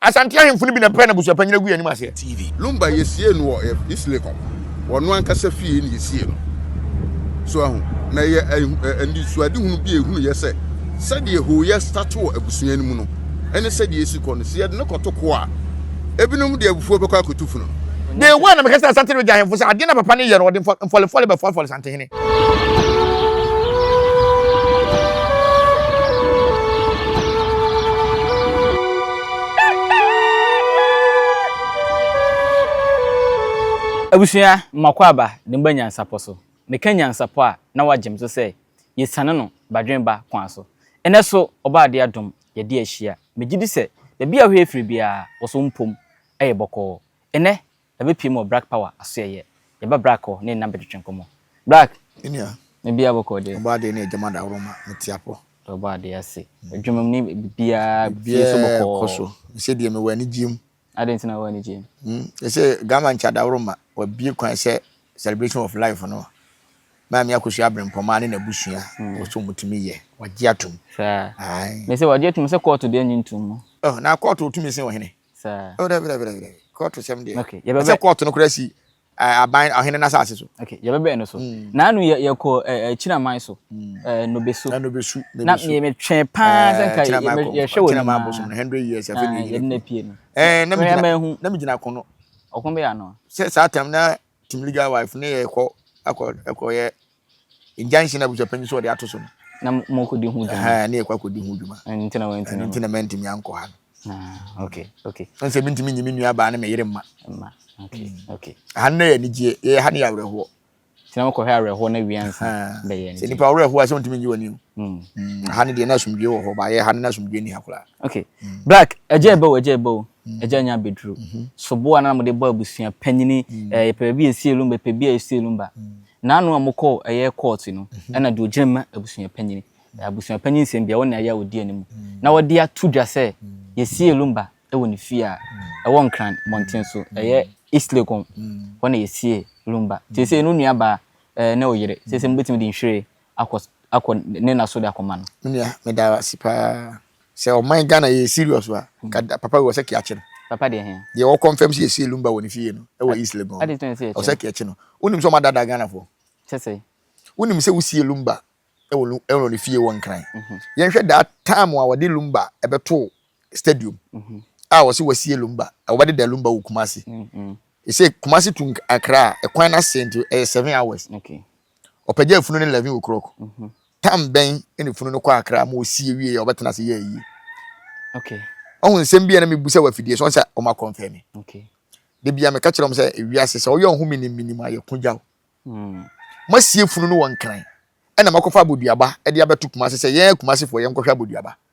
Asante ahemfo no bi na ɛpɛɛ no abusuapanyin agui anim aseɛ. TV. Lumba yɛsiee no wɔ yɛ East Lake hɔ, wɔ ɔno ankasa fie na yɛsiee no. So ahu? Na ɛyɛ anisoadehunu bi a ɛhunu yɛ sɛ, sɛdeɛ hooyɛ start wɔ abusua no mu no ne sɛdeɛ ɛsi kɔ no, sɛ yɛde no kɔto ko a, ebinom de abufuo bɛkɔ akɔtu funu no. Day one na mekakyerɛɛ Asante Regya ahemfo sɛ adeɛ no a papa no reyɛ no, ɔde mfɔlefɔle bɛfɔlefɔle Santehene. Abusua, mmakwaaba ne mba nyansapɔ so. Meka nyansapɔ a na wɔagye me so sɛ yesiane no badwenba kwan so. Ɛnnɛ so, Ɔbaa de adom, yɛde ahyia. Megye di sɛ baabi a wohwɛ firi biara, wo so mpom yɛ bɔkɔɔ. Ɛnnɛ, Yɛabɛpue mu wɔ Brak Power asoɛeɛ. Yɛba Brak hɔ ne nna bɛtwetwe nkɔmmɔ. Brak! Me nua. Ne bia bɔkɔɔ deɛ? Ɔbɔ adeɛ ne adwuma dawuroma, mete apɔ. Deɛ ɔbɔ adeɛ ase. Adwuma mu ne biribiara fie nso bɔkɔɔ. Biribiara kɔ so. Me sɛ deɛ mewɔ anigyeɛ mu. Adɛn nti na wowɔ anigyeɛ mu? Hmm, yɛ sɛ Garmankyɛ Adawuroma, wɔabue kwan sɛ Celebration of Life no, Maame Akosua Abrempɔmaa ne n'abusua, wɔ sɛ wɔtumi yɛ, wɔagye atom. Saa. Ae. Me sɛ wɔagye atom sɛ kɔɔto deɛ nnye ntom mu. Oh, na kɔɔto tumi sen ɔhene? Sɛ. Oh, dabi, dabi, dabi, dabi. Kɔɔto sɛm deɛ. Okay, yɛbɛbɛ. Ɛsɛ kɔɔto no kura si eh, aban ɔhene n'asase so. Okay, yɛbɛbɛn no so. Mm. Naanu yɛ yɛkɔ eh, eh, Kyinaman so. Mm. Eh, Nobesu. Na Nobesu. Na me me twɛn paa sɛ nka yɛhwɛ wɔ Kyinaman bosom no 100 years afei na yɛnyina pie no. Eh, na me gyina. Na me gyina kono. Ɔko bɛ ano. Sɛ saa tam na Team legal wife ne yɛ kɔ akɔ ɛkɔ yɛ injunction na abusua panyin so ɔde ato so no. Na mo kɔ di ho dwuma. Ɛhɛn ne yɛ kɔ akɔ di ho dwuma. Ɛno nti na wɔn nti na. Ɛno nti na mɛ ntumi ankɔ ha no. Ah okay okay. Wɔn sɛ mi ntumi nyi mi nua baa ne mɛ yere mma. Mma okay okay. Ɛha no yɛ anigyeɛ yɛ ha no yɛ awerɛhoɔ. Nti na mo kɔ hɛ awerɛhoɔ na wia nsa bɛ yɛ nti. Sɛ nipa awerɛhoɔ a sɛ ntumi nyi wɔn ni o. Ha no deɛ na asomdwie wɔ hɔ ba yɛ ha no na asomdwie ni ha koraa. Okay black ɛgya ɛbɛ o ɛgya ɛbɛ o. Agya nya bɛduru. Soboɔ a na wɔde bɔ abusua panyini, yɛpɛ baabi a ɛsie lumba, yɛpɛ baabi a ɛsie lumba. Naanu a mokɔɔ ɛyɛ kɔɔte no, ɛna deɛ ɔgyina mu ma abusua panyini. Abusua panyin nsɛm biara, ɔne ayɛ a ɔdi anim. Na wɔde ato dwa sɛ, yɛsie lumba wɔ ne fie a ɛwɔ Nkran mmɔnten so, ɛyɛ East Legon. Hɔ na yɛsie lumba. Seesei no nuabaa ne ɔyere, seesei mobɛtumi de nhwiren akɔ akɔ ne nna so de akɔma no. Me nua meda wo ase paa sɛ ɔman Ghana yɛ serious wa ka da papa wɔ sɛ kea kye no. Papa deɛ hɛn. Deɛ wɔ confirm sɛ yɛsie lumba wɔ ne fie no ɛwɔ East Legon no ɛwɔ sɛ kea kye no wonim sɛ ɔmo adaadaa Ghana foɔ. Kyɛ sɛ. Wonim sɛ wosie lumba ɛwɔ lu ɛwɔ ne fie wɔ Nkran yɛn hwɛ daa time a wɔde lumba ɛbɛtoo stadium a wɔse wɔasie lumba wɔbɛdeda lumba wɔ Kumasi They say Kumasi to Accra ɛkwan no asɛe nti ɛyɛ seven hours. Ɔpɛgya afunu no eleven o'clock. Tam bɛn na efunu no kɔ Accra ma osie wie a ɔbɛtena ase yɛ ayie. Ɔho nsɛm bi a na mebu sɛ wafidie so sɛ ɔma kɔnfɛ me. Da bia meka kyerɛ wɔn sɛ ewiase sɛ ɔyɛ ɔho menim menim a yɛko gya o. Masie funu no wɔ nkran ɛna makɔfa aboduaba de abɛto Kumasi sɛ yɛn Kumasifoɔ yɛnkɔhwɛ aboduaba.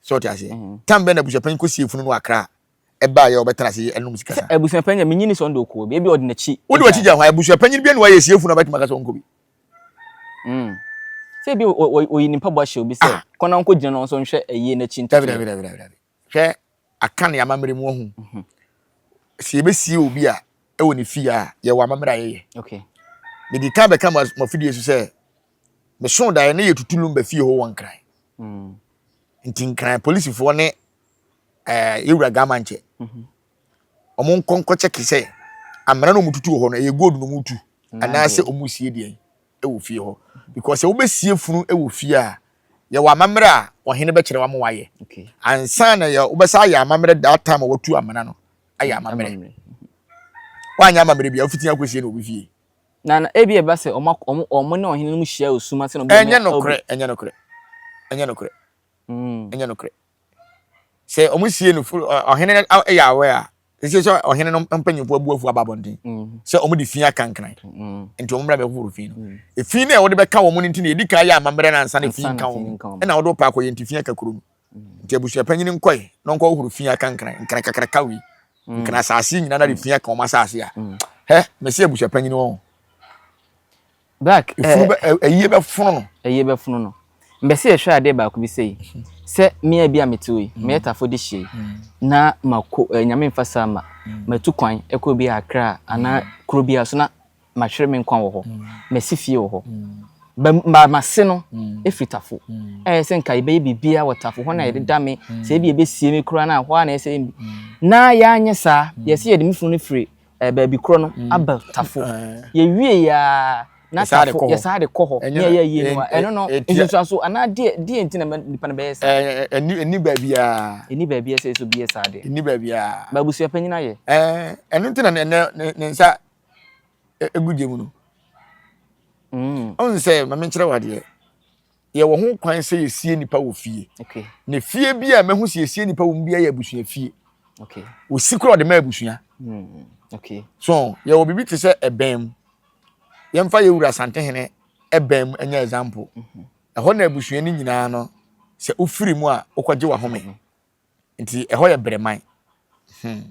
So ɔte aseɛ? Mhm. Tam bɛn na abusuapanyin kɔ sie funu no akra a ɛbaa yɛ ɔbɛtena ase ɛnum sika saa? Abusuapanyin deɛ menyi ni sɛ ɔno deɛ ɔkɔ bi, ebi ɔde n'akyi. Wode w'akyi gya hɔ a, abusuapanyin biara ni wɔayɛ sie funu a ɔbɛtumi aka sɛ ɔnkɔ bi. Mm. Sɛ ebi ɔ- ɔ- ɔyi ne mpaboa hyɛ obi sɛ kɔ na nkɔ gyina na ɔnso nhwɛ ayie n'akyi Dabi dabi ntotoeɛ. dabi dabi dabi. Hwɛ aka ne amammerɛ mu ɔho. Mhm. Sɛ yɛbɛsie obi a ɛwɔ ne fie a yɛwɔ amammerɛ a yɛyɛ. Okay. Mede kan bɛka mo as- mo afidie so sɛ Mesoo daeɛ na yɛtutu Lumba fie hɔ wɔ Nkran. Mm. Nti Nkran polisifoɔ ne eh, yɛwura Gamankyɛ. Mm-hmm. Wɔn nkɔ nkɔkyɛke sɛ amena na wɔtutu wɔ hɔ no ɛyɛ gold na wɔtu anaasɛ wɔsie deɛn wɔ fie hɔ. Mm-hmm. Because sɛ wobɛsie funu wɔ fie a yɛwɔ amammerɛ a ɔhene bɛkyerɛ wa ma wayɛ. Ansa na yɛ wobɛsa ayɛ amammerɛ that time a wɔtu amena no ayɛ amammerɛ. Woanyɛ amammerɛ bi a wofiti akɔsie na obi fie. Na na ebi ɛba sɛ wɔn wɔn wɔn ne ɔhene no mu hyia wɔ sum ase na obi Ɛnyɛ nokorɛ, ɛnyɛ nokorɛ, ɛnyɛ nokorɛ, mm. ɛnyɛ nokorɛ. Sɛ wɔn sie no fo ɔhene yɛ awɛ a, ɛsɛ sɛ ɔhene no mpanyinfoɔ abuafoɔ aba abɔnten mm. sɛ wɔn de fi aka nkran mm. nti wɔn mmra bɛhohoro fi no. Mm. Efi no a wɔde bɛka wɔn no nti na yɛdi kan yɛ amammerɛ no ansa na fi nka wɔn ɛna wɔde wɔpa akɔyɛ nti fi aka kuro no. Nti abusuapanyin nkɔe na ɔnkɔhohoro fi aka nkran nkran kakraka wei mm. nkran asase nyinaa na de fi aka wɔn asase a mm. hɛ mɛsi abusuapanyin wɔn. Black efunu bɛ eh, ɛyie eh, bɛ funu no. Ɛyie bɛ funu no mbɛsi ɛhwɛ e adeɛ baako bi sɛ yi mm. sɛ mmea bi a mete yi mmea tafo de hyɛ yi na ma ko ɛɛ nyame nfa saa ma ma tu kwan ɛkɔ bi akra anaa kuro bi a so na mahwere me nkwa wɔ hɔ, masi fie wɔ hɔ. Ba mase no firi tafo. Ɛyɛ sɛ nka yɛbɛyɛ biribiara wɔ tafo hɔ na yɛde da me, sɛ ebi yɛbɛsie me koraa na hɔ ara na ɛsɛ. Na yɛanyɛ saa, yɛsɛ yɛde me funu no firi baabi korɔ no aba tafo. Yɛwie yɛ a na tafo yɛsan de kɔ hɔ. Nea yɛayɛ no a, ɛno no nsunsuanso anaa deɛ nti na nipa no bɛyɛ saa? Ɛnni baabiara. Ɛnni baabiara sɛ yɛsɛ obi yɛ saa deɛ. Ɛnni baabiara. Ba abusua panyin ayɛ. Ɛno nti na ne nsa egu gya mu no. Mm. Ɔn sɛ ma menkyerɛ wo adeɛ. Yɛwɔ ho kwan sɛ yɛsie nipa wɔ fie. Okay. Na fie bi a mahu sɛ yɛsie nipa wɔ mu bi yɛ abusua fie. Okay. Osi kora ɔde ma abusua. Mm. Okay. So yɛwɔ biribi te sɛ ɛbɛn mu. Yɛmfa yɛ wura Asantehene ɛbɛn mu ɛnyɛ example. Mm-hmm. Ɛhɔ na abusua no nyinaa no sɛ wofiri mu a wokɔgye wahome. Mm-hmm. Nti ɛhɔ yɛ brɛman. Hmm.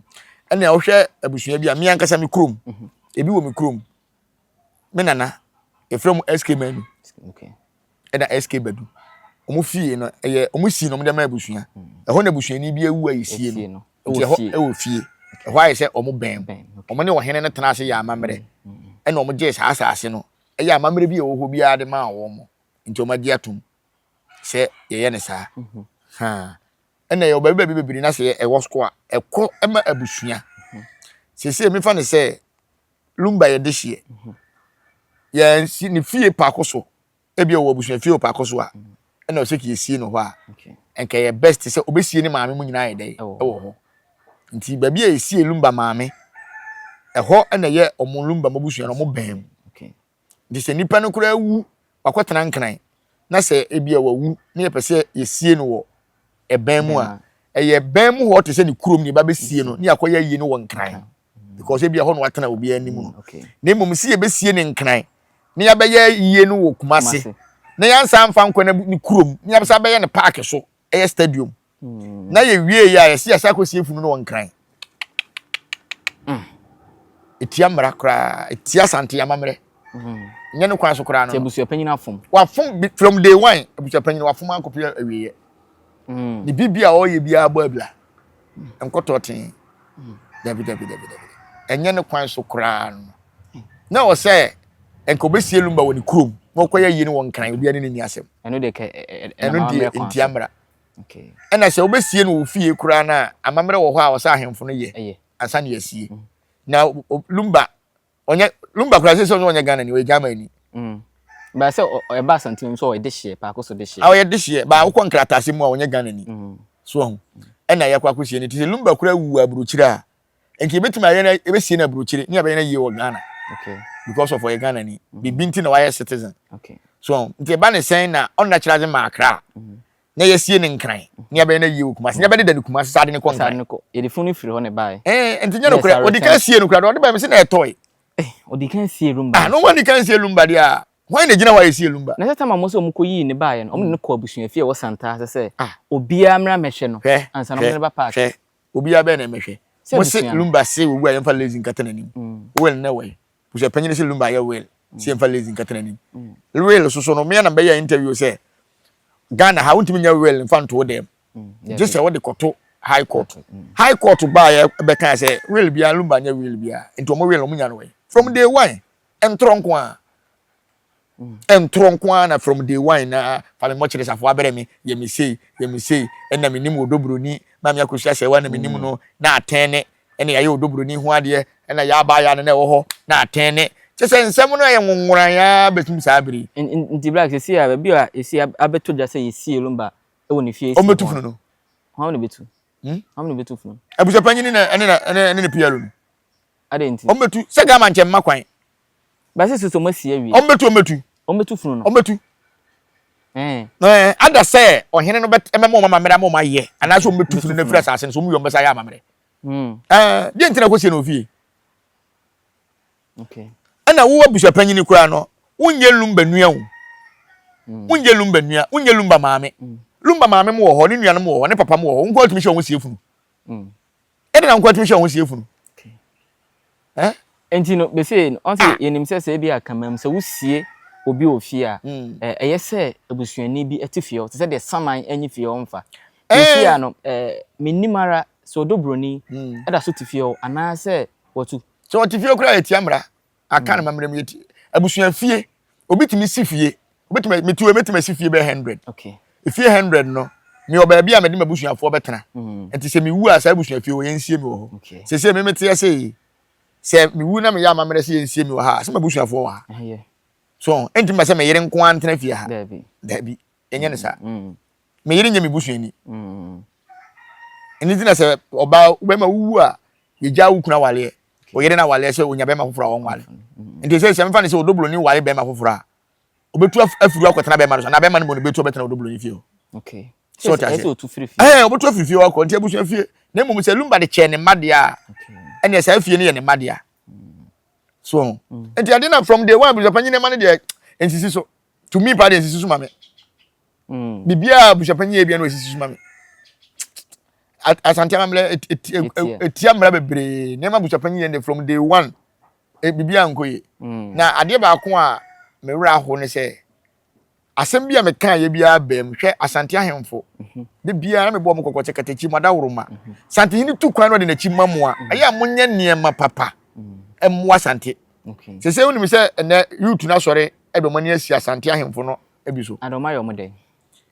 Ɛnna wohwɛ abusua bi a me ankasa me kurom. Mhm. Ebi wɔ me kurom. Me nana, yɛfrɛ mu SK Manu. Okay. Ɛna SK Badu. Wɔn fie no, ɛyɛ wɔn si na wɔn de ma abusua. Hmm. Ɛhɔ na abusuani bi awu a yɛsie no. Nti ɛhɔ ɛwɔ fie. Ɛhɔ ayɛ sɛ wɔn bɛn. Wɔn ne ɔhene no tena ase yɛ amammerɛ. Hmm. Hmm. Ɛna wɔn gyee saa asase no. Ɛyɛ amammerɛ bi a ɛwɔ hɔ biara de maa wɔn. Nti wɔn agye atom. sɛ yɛyɛ no saa ha ɛna ɛwɔ baabi baabi bebree na sɛ ɛwɔ sukuu a ɛkɔ ɛma abusua sese mefa no sɛ lumba yɛ de hyeɛ yɛn si ne fie paako so ebi wɔ abusua fie paako so a ɛna ɔsɛ kì esie no hɔ a nka yɛ best sɛ obesie ne maame mu nyinaa yɛ dɛ ɛwɔ hɔ nti baabi a esie lumba maame ɛhɔ ɛna yɛ ɔmo lumba mo abusua na ɔmo bɛn mu. Nti sɛ nipa no koraa wu, wakɔtena nkran, na sɛ ebi a wawu na yɛpɛ sɛ yɛsie no wɔ ɛbɛn mu a, ɛyɛ ɛbɛn mu hɔ te sɛ ne kurom ne yɛba bɛsie no ne yɛakɔyɛ ayie no wɔ nkran mm. because ebi a hɔ na watena obiara anim no mm, na mmom sɛ yɛbɛsie ne nkran na yɛabɛyɛ ayie no wɔ kumase na yɛansa amfa nkɔ ne kurom na yɛabɛsa abɛyɛ no paake so ɛyɛ stadium Mm. Na yɛ wie yɛ a yɛsi yɛsa akɔ sie funu no wɔ nkran. Mm. Etia mmara koraa, etia sante amammerɛ. Mm. Nyɛ ne kwan so koraa no. Ti abusuapanyin afom. Wafom from day one abusuapanyin wafom ankɔpɛ awieɛ. Mm. Ne biribi a ɔyɛ biara bɔ abira. Mm. Nkɔtɔ tee. Mm. Dabi dabi dabi dabi. Ɛnyɛ ne kwan so koraa no. Mm. Na wɔ sɛ nka obesie lumba wɔ ne kurom na ɔkɔyɛ yie no wɔ nkran obiara ne ne ni asɛm. Ɛno deɛ kɛ ɛnam ammerɛ kwan so. Ɛno deɛ ntia mmara. ɛna sɛ wobɛsie no wɔ fie koraa no a amammerɛ wɔ hɔ a ɔsɛ ahemfo no yɛ ansa ne asie mm. na lumba ɔnyɛ lumba koraa sɛ sɛ ɔnyɛ ɔnyɛ ghana ni ɔyɛ german ni mm. baa sɛ ɛba asantene mu sɛ ɔyɛ dehyeɛ paako so dehyeɛ a ɔyɛ dehyeɛ baa wokɔ nkrataase mu a ɔnyɛ ghana ni mm. so ɔho ɛna yɛkɔ akɔsie no nti sɛ lumba koraa wu wɔ aburokyire a nti yɛbɛtumi ayɛ no yɛbɛsie no aburokyire ne yɛbɛyɛ no yie wɔ ghana because of ɔyɛ ghana ni mm. biribi nti na wayɛ citizen so nti ɛba ne sɛn na ɔnna kyerɛ adze ma akra mm. na yɛsie ne nkran mm. ne yɛbɛyɛ no yie wɔ kumase ne yɛbɛdeda ne kumase sɛ ade ne kɔ nkran yɛde funu firi hɔ ne bae ɛɛ nti nyɛ no korɛ ɔde kan sie no korɛ ɔde bae mi sɛ na ɛtɔe eh, ɔde kan sie lumba ah na wɔn de kan sie lumba deɛ a wɔn na gyina hɔ a yɛsie lumba na sɛ sɛ maa mo sɛ wɔn kɔ yii ne baeɛ no wɔn ne no kɔ abusua fie wɔ santaa sɛ sɛ ah. obiara mmira mɛhwɛ no ansa na wɔn ne ba paaki Obiara bɛyɛ na ɛmɛhwɛ. Sɛ Mo se Lumba se owu a yɛmfa Lazy nkata n'anim. Will ne wɛn. Busuapanyin no se Lumba ayɛ Will se yɛmfa Lazy nkata n'anim. Will soso no, me ara na mɛyɛɛ interview sɛ Ghana ha wontumi nyɛ Will mfa nto wo dan mu. Gye sɛ wode kɔto High Court. High Court baeɛ bɛkaa sɛ Will biara, Lumba nyɛ Will biara. Nti wɔn Will no wɔnya no wɛn. From day one, ntorɔ nko ara. Mm. ɛntorɔ nko ara na from day one na fa me mmɔkyerɛ safo abrɛ me yɛ me sei yɛ me sei ɛna me nim odobroni maame akosua sɛ wa na me nim no na atɛn ne ɛna yɛayɛ odobroni ho adeɛ ɛna yɛaba ayɛ ano na ɛwɔ hɔ na atɛn ne kyɛ sɛ nsɛm no yɛ nwonworan ya bɛtum saa bere nti black sɛ si a baabi a ɛsi abɛto gya sɛ yɛsie lumba ɛwɔ ne fie ɛsi ɔmbɛtu funu no hɔn na bɛtu hmm? hɔn na bɛtu funu abusapanyini na ɛne na ɛne ne pr no adɛn nti ɔmbɛtu sɛ gama nkyɛn mma kwan Basi sɛ wɔn asi awie. Wɔn bɛtu, wɔn bɛtu. Wɔn bɛtu funu no. Wɔn bɛtu. Ɛɛ. Ada sɛ ɔhene no bɛ ɛmɛ ma wɔn amammerɛ ama wɔn ayɛ anaasɛ wɔn bɛtu funu no afiri asase no so wɔn yɛ wɔn bɛsa ayɛ amammerɛ. Ɛɛ deɛ ntina kɔ sie na ofie. Okay. Ɛna wo abusuapanyini koraa no wonyɛ lumba nua o. Mm. wonyɛ lumba nua wonyɛ lumba maame mm. lumba maame mu wɔ hɔ ne nuanom wɔ hɔ ne papa mu wɔ hɔ nko atumi hyɛ wɔn sie funu mm. Ɛde na nkoa tumi hwɛ wɔn sie funu. Eh? Nti no bese no ɔn sɛ yɛnim sɛ sɛ ebi a kamam sɛ wosie obi wɔ fie a ɛyɛ sɛ abusuani bi te fie hɔ te sɛ deɛ saman anyi fie hɔ mfa. Seesei a no mennim ara sɛ ɔdɔ buroni da so te fie hɔ anaasɛ watu. Sɛ ɔte fie koraa a yɛtia mmara. aka no mammerɛ mu yɛti abusua fie obi tumi si fie obi tumi metu obi tumi si fie bɛyɛ hundred efie hundred no mi wɔ baabi a mɛde ma abusuafoɔ bɛtena mm. nti sɛ mi wu a saa abusua fie wɔ yɛn nsie mi wɔ hɔ sese mi mi teɛ se yi sɛ mi wu na mi yɛ amammerɛ sɛ yɛn nsie mi wɔ ha sɛ ma abusuafoɔ wɔ ha so ɛnti ma sɛ mi yere nko ara ntena fie ha daabi yɛnyɛ no saa me yere nyɛ me busuani ɛno nti na sɛ ɔbaa wobɛma wowu a yɛgya wo kunu awaleɛ ɔyere no awaleɛ sɛ ɔnya bɛrima foforɔ a ɔnwale nti sɛ sɛ mefa no sɛ ɔdɔbroni ware bɛrima foforɔ a ɔbɛtu afiri akɔtena bɛrima no so anaa bɛrima no mu no bɛtu ɔbɛtena ɔdɔbroni fie hɔ so ɔte ase ɛɛ ɔbɛtu afiri fie hɔ akɔ nti abusua fie na mmom sɛ lumba de kyɛɛ ne mma deɛ a ɛneɛ saa fie no yɛ ne mma deɛ so mm. nti ade na from day one abusua panyin ne ma no deɛ nsisi so tumi pa deɛ sisi so ma me mm. biribiara abusuapanyin yɛ bia na wɔsisi so ma me asante amammerɛ ɛtia mmara bebree nneɛma abusuapanyin yɛ ne from day one e, biribiara nkɔ yie mm. na adeɛ baako a me werɛ aho ne sɛ asɛm bi a mekaa yɛ biara bɛn mu hwɛ asante ahemfo mhm. de biara na mebɔ mo kɔkɔ sɛ katakyi mu adaworoma mhm. santehene tu kwan na ɔde n'akyi ma mu a mhm. ɛyɛ a monyɛ nneɛma papa mmoa sante Okay. Sɛ sɛ wonim sɛ ɛnɛ youth no asɔre ɛde ɔmo ani asi Asante ahemfo no bi so. Ade ɔmo ayɛ ɔmo dɛn?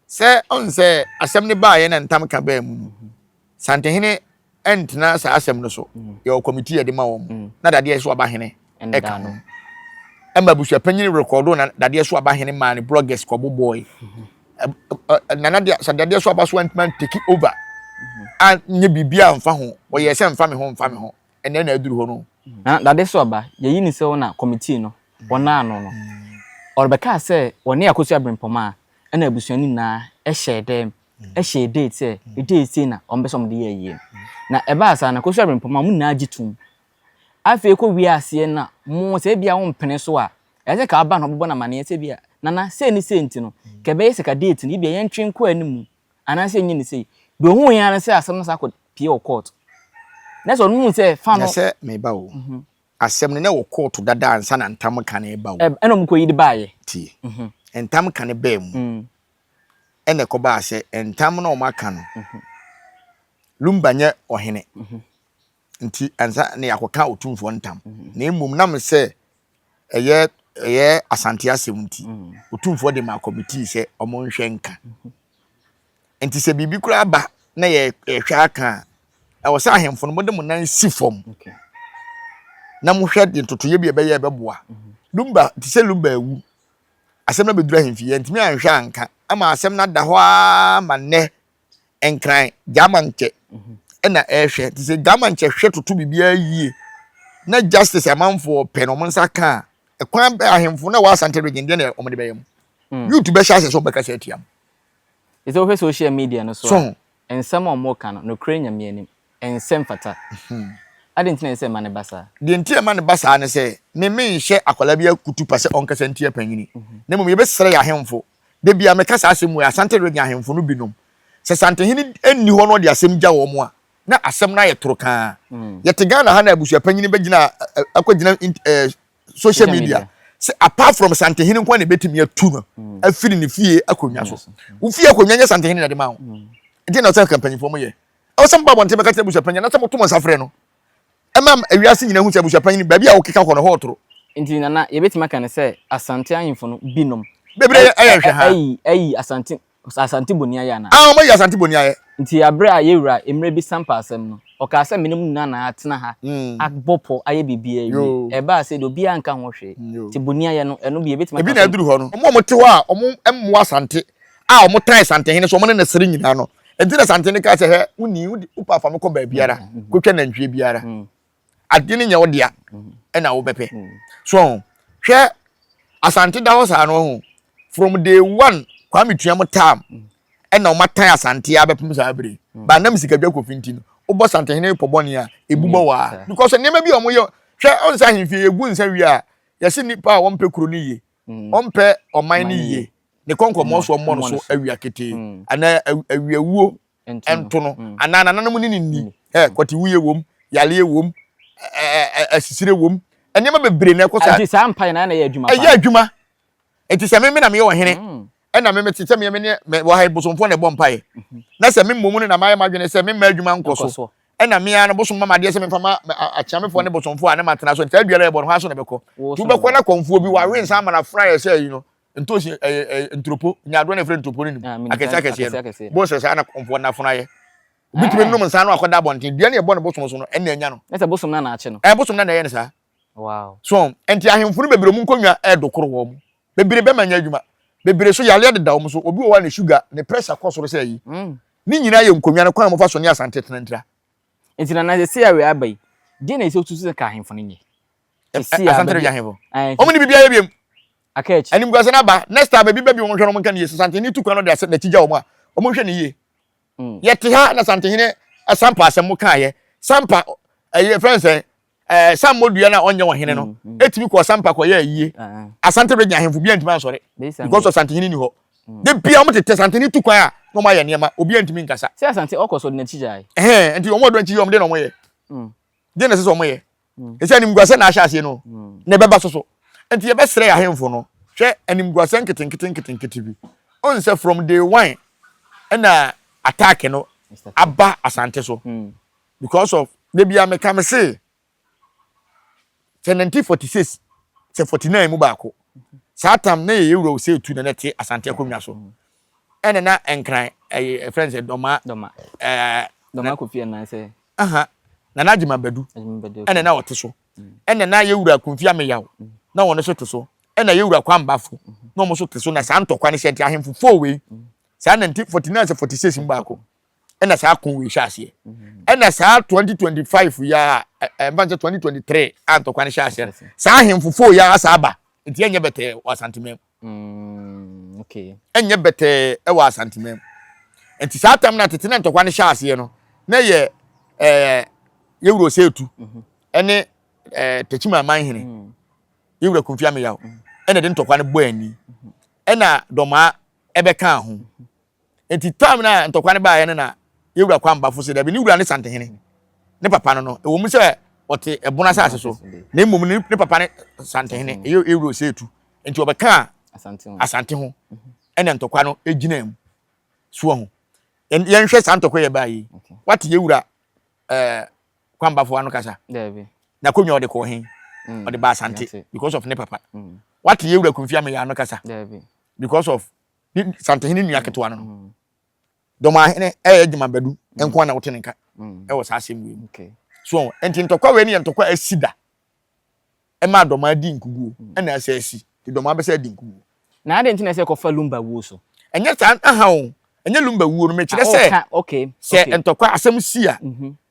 Sɛ ɔn sɛ asɛm no baayɛ na ntam ka baa mu no, mm-hmm. Santehene ɛntena saa asɛm no so. Mm-hmm. Yɛwɔ kɔmitii yɛde ma wɔn mm-hmm. na dadeɛ so aba hene ɛka no. Ɛma abusuapanyin rekɔdo na dadeɛ so aba hene maa ne bloggers kɔ bobɔe. Nana deɛ sɛ dadeɛ so aba so antuma take over. A nye biribi a mfa ho. Ɔyɛ sɛ mfa me ho mfa me ho. Ɛnnɛ na aduru hɔ no. Na dade so aba, yɛayi no sɛ ɔna kɔmitii no, wɔnaa ano no. Ɔrebɛkaa sɛ wɔne Akosua Brempɔm a ɛna abusua no nyinaa hyɛɛ dɛm hyɛɛ date sɛ date sei na wɔpɛ sɛ wɔde yɛ ayie no. Na ɛbaa saa no, Akosua Brempɔm a wɔn nyinaa gye toom. Afei kɔ wiee aseɛ no na mo sɛ ebia wompene so a, ɛsɛ sɛ ka woba na wobɛbɔ no amaneɛ sɛ ebia Nana sei ne sei nti no, ka ɛbɛyɛ sɛ ka date no ebia yɛntwe nkɔ anim anaasɛ yɛnyɛ no sei. Deɛ ɔhuui ara ne sɛ asɛm no san kɔ pie wɔ court na sɛ ɔno hu sɛ fa no. na sɛ meba o mhm. asɛm no na wɔ court dada ansa na ntam ka no ba o ɛna ɔmo kɔ yi de baayɛ tie mhm. ntam ka no baa mu mm. ɛna ɛkɔbaa sɛ ntam na ɔmo aka no mhm. lumba nyɛ ɔhene nti ansa na yɛakɔka otumfoɔ ntam na mmom nam sɛ ɛyɛ ɛyɛ Asante asɛm nti, Otumfoɔ de maa kɔmitii sɛ wɔnhwɛ nka. Nti sɛ biribi koraa ba na yɛhwɛ aka a, ɛwɔ sɛ ahemfo no mode mo nan si fam na mohwɛ de ntotoyɛ bi a ɛbɛyɛ ɛbɛboa. Lumba te sɛ Lumba awu. Asɛm no abɛduru ahemfie, yɛntumi anhwɛ anka ama asɛm no ada hɔ ara ma nnɛ nkran gyamankyɛ ɛna ɛhwɛ nti sɛ gyamankyɛ hwɛ toto biribiara yie na justice amanfoɔ pɛ na wɔn nsa ka a ɛkwan bɛ ahemfo na wɔn asante region deɛ na wɔn de bɛyɛ mu mm. youth bɛhyɛ ahyɛ sɛ wɔn bɛkasa atia mu. ɛsɛ wohwɛ social media no so a nsɛm a wɔn ka no nokorɛ nyame anim ɛnsɛ mfata mhm. adi nti na ɛsɛ ɛma ne ba saa. deɛ nti ɛma ne ba saa ne sɛ meme nhyɛ akwadaa bi akutu pa sɛ ɔnkasa ntia panyini mhm. na mmom yɛbɛsrɛ yɛ ahemfo Da biara meka saa asɛm wei, Asante Reggae ahemfo no binom, sɛ Santehene nni hɔ na ɔde asɛm gya wɔn a, na asɛm no ayɛ toro kaa. Yɛte Ghana ha na abusuapanyin bɛgyina akɔgyina social media sɛ apart from Santehene nko ara na ɛbɛtumi atu no afiri ne fie akonnwa so. Wo fie akonnwa nyɛ Santehene na ɛde ma wo. Ɛdeɛ na ɛsɛ sɛ mpanyinfoɔ mo yɛ. Ɛwɔ sɛ moba abɔnten bɛka kyerɛ abusuapanyin anaasɛ moto mo nsa frɛ no. ɛma wiase nyinaa hu sɛ abusuapanyin no baabi a wokeka kɔ no hɔ toro. Nti Nana, yɛbɛtumi aka no sɛ Asante ahemfo no binom. Bebree ayɛ nhwɛ ha. Ayi, ayi Asante, Asante boni ayɛ anaa? Aa, wɔayi Asante boni ayɛ. Nti bere a yɛn wura Mmerɛbi san paa asɛm no, ɔkaa sɛ menom nnuan na atena ha, abɔ pɔ, ayɛ biribiara awie. Ɛbaa sɛ deɛ obiara anka ho hwee. Nti boni ayɛ no, ɛno bi yɛbɛtumi aka sɛ. Ebi na aduru hɔ no. Wɔn a wɔte hɔ a wɔmmoa Asante a wɔtan Santehene so wɔne no sere nyinaa no nti na Santehene kaa sɛ hɛ woni wopɛ afa me kɔ baabiara mm, mm. kɔtwa nantwie biara mm. adeɛ no nyɛ wo dea ɛna wobɛpɛ so hwɛ asante da hɔ saa no ho from day one kwame tua mo tam ɛna wɔn atan asante abɛpem saa bere hmm. ba nam sikadwa kofi nti no wobɔ santehene pɔ bɔne a ebu bɔ hmm. waa because nneɛma bi a wɔyɛ hwɛ ɔnsa ahemfie yɛgu nsa wie a yɛsi nipa a wɔmpɛ kuro no yie ɔmpɛ ɔman no yie, ne kɔnkɔnmɔsoɔ mmɔ no so awia ketee, anaa awiawuo nto no, anaa nananom ne no nni, kɔtewuiɛ wom, yareɛ wom, asisire wom, nneɛma bebree na ɛkɔ saa. Ɛti saa mpae na ɛna ɛyɛ adwuma. Ɛyɛ adwuma. Ɛti sɛ meme na meyɛ ɔhene. ɛna me mete sɛ me ne wɔ ha bosomfoɔ na ɛbɔ mpaeɛ mhm. na sɛ me mmom no na mayɛ m'adwene sɛ memma adwuma nkɔ so ɛna me ara no bosom ma madeɛ sɛ memfa ma akyeamefoɔ ne bosomfoɔ a ne matena so nti saa duara ɛbɔ no hɔ aso na ɛbɛkɔ nti wobɛkɔ na kɔmfoɔ bi wawe nsa ama no afra yɛ sɛ yi no ntosi ɛɛ eh, eh, eh, nturopo nyaadoɔ na ɛfrɛ nturopo no nim ah, akɛse akɛseɛ no bo sɛ saa na kɔmfoɔ no afona yɛ bitumi ah. nom nsa no akɔda abɔnten dua ne ɛbɔ no bosom so no ɛna anya no ɛsɛ bosom no na akye no ɛɛ bosom no na ɛyɛ no saa Wow. So nti ahemfo no bebree wɔn nkonnwa ɛɛdo koro wɔn. Bebree bɛma nyɛ adwuma. Bebree so yareɛ deda wɔn so. Obi wɔ hɔ a ne sugar, ne pressure kɔ soro sɛ ayi. Mm. Ne nyinaa yɛ nkonnwa no kwan a wɔfa so ne asante tena ntira. Nti na na sɛ awie aba yi, deɛ na ɛsɛ otu sɛ ka ahemfo no nyɛ. Asante no yɛ ahemfo. Wɔn ne biribiara yɛ biem. Aka akyi. Animguase no aba. Next time ebi bɛbi wɔn hwɛ no wɔn nka ne yie. Sɛ santehene no tu kwan no de asɛ n'akyi gya wɔn a, wɔn hwɛ ne yie. Mm. Yɛte ha na santehene asampa asɛm mo kaayɛ. Sampa ɛyɛ fɛn sɛ ɛɛ san mmɔdua no a ɔnyɛ wɔn hene no mm, mm. etumi kɔ ɔsampa kɔ yɛ ayie ah, ah. asante regye ahemfo bi ntumi ansɔre because of santehene ni hɔ mm. de bia wɔn tete santehene tu kwan a na wɔn ayɛ nneɛma obi ntumi nkasa. sɛ asante ɔkɔ so de n'akyi gya yi. ɛhɛn nti wɔn a wɔdɔn akyi yɛ wɔn de na wɔn yɛ de na ɛsɛ sɛ wɔn yɛ ɛsɛ animguasɛ na ahyɛ aseɛ no na ɛbɛba so so nti yɛbɛsrɛ yɛ ahemfo no hwɛ animguasɛ nketenkete nketenkete bi ɔn sɛ from day one ɛna attack no aba asante so. Mm. because of da bia meka me se sɛ nante 46 sɛ 49 mu baako saa tam na yɛyɛ wura ose tu na na te asante akonnwa so ɛna na nkran ɛyɛ friends dɔma dɔma ɛɛ dɔma kofi ɛna sɛ aha na na adwuma badu ɛna na ɔte so ɛna na yɛ wura konfi ameyaw na wɔn so te so ɛna yɛ wura kwambafo na wɔn so te so na saa ntɔkwa ne hyɛ nti ahemfo fo wei saa 1949 sɛ 46 mu baako ɛna saa ko wei hyɛ aseɛ ɛna saa 2025 yi a ɛmfa n sɛ 2023 a ntɔkwa no hyɛ aseɛ no saa ahemfo foo yi a saa aba nti ɛnyɛ bɛtɛɛ wɔ asantemam mm, ɛnyɛ bɛtɛɛ ɛwɔ asantemam nti saa tam no atete na ntɔkwa no hyɛ aseɛ no na yɛ ɛɛ yɛwuro sɛ etu mhm. ɛne ɛɛ tɛkyima aman hene mm. yɛwura kunfi ameyaw mm. ɛna de ntɔkwa no bɔ ani mhm. ɛna dɔmaa ɛbɛka ho Enti time no a ntɔkwa no baeɛ no na yɛn wura Kwambafo se dabi ne wura ne Santehene, ne papa no no, ɛwɔ mu sɛ ɔte ɛbono asase so na mmom no ne papa ne Santehene, ɛyɛ Ewuro sɛ etu nti ɔbɛkaa Asante ho ɛna ntɔkwa no gyinaa mu. So wahu? Yɛn yɛnhwɛ saa ntɔkwa yɛ baa yi. Wate yɛn wura eh, Kwambafo ano kasa? Daabi. N'akonnwa ɔde kɔɔ hen? Mm. Ɔde baa Asante Yɛate. because of ne papa. Mm. Wate yɛn wura Kumfi Ameya ano kasa? Daabi. Because of ne santehene nua ketewa no no dɔmahene ɛyɛ adwuma badu nko ara na wote ne nka ɛwɔ saa asɛm wei mu so nti ntɔkwa wei ne yɛ ntɔkwa asi da ɛma adɔma adi nkuguo ɛna ɛsɛ asi nti dɔma abɛsɛ adi nkuguo na adɛn nti na ɛsɛ kɔfa lumba wuo so ɛnyɛ saa aha o ɛnyɛ lumba wuo no mekyerɛ sɛ sɛ ntɔkwa asɛm si a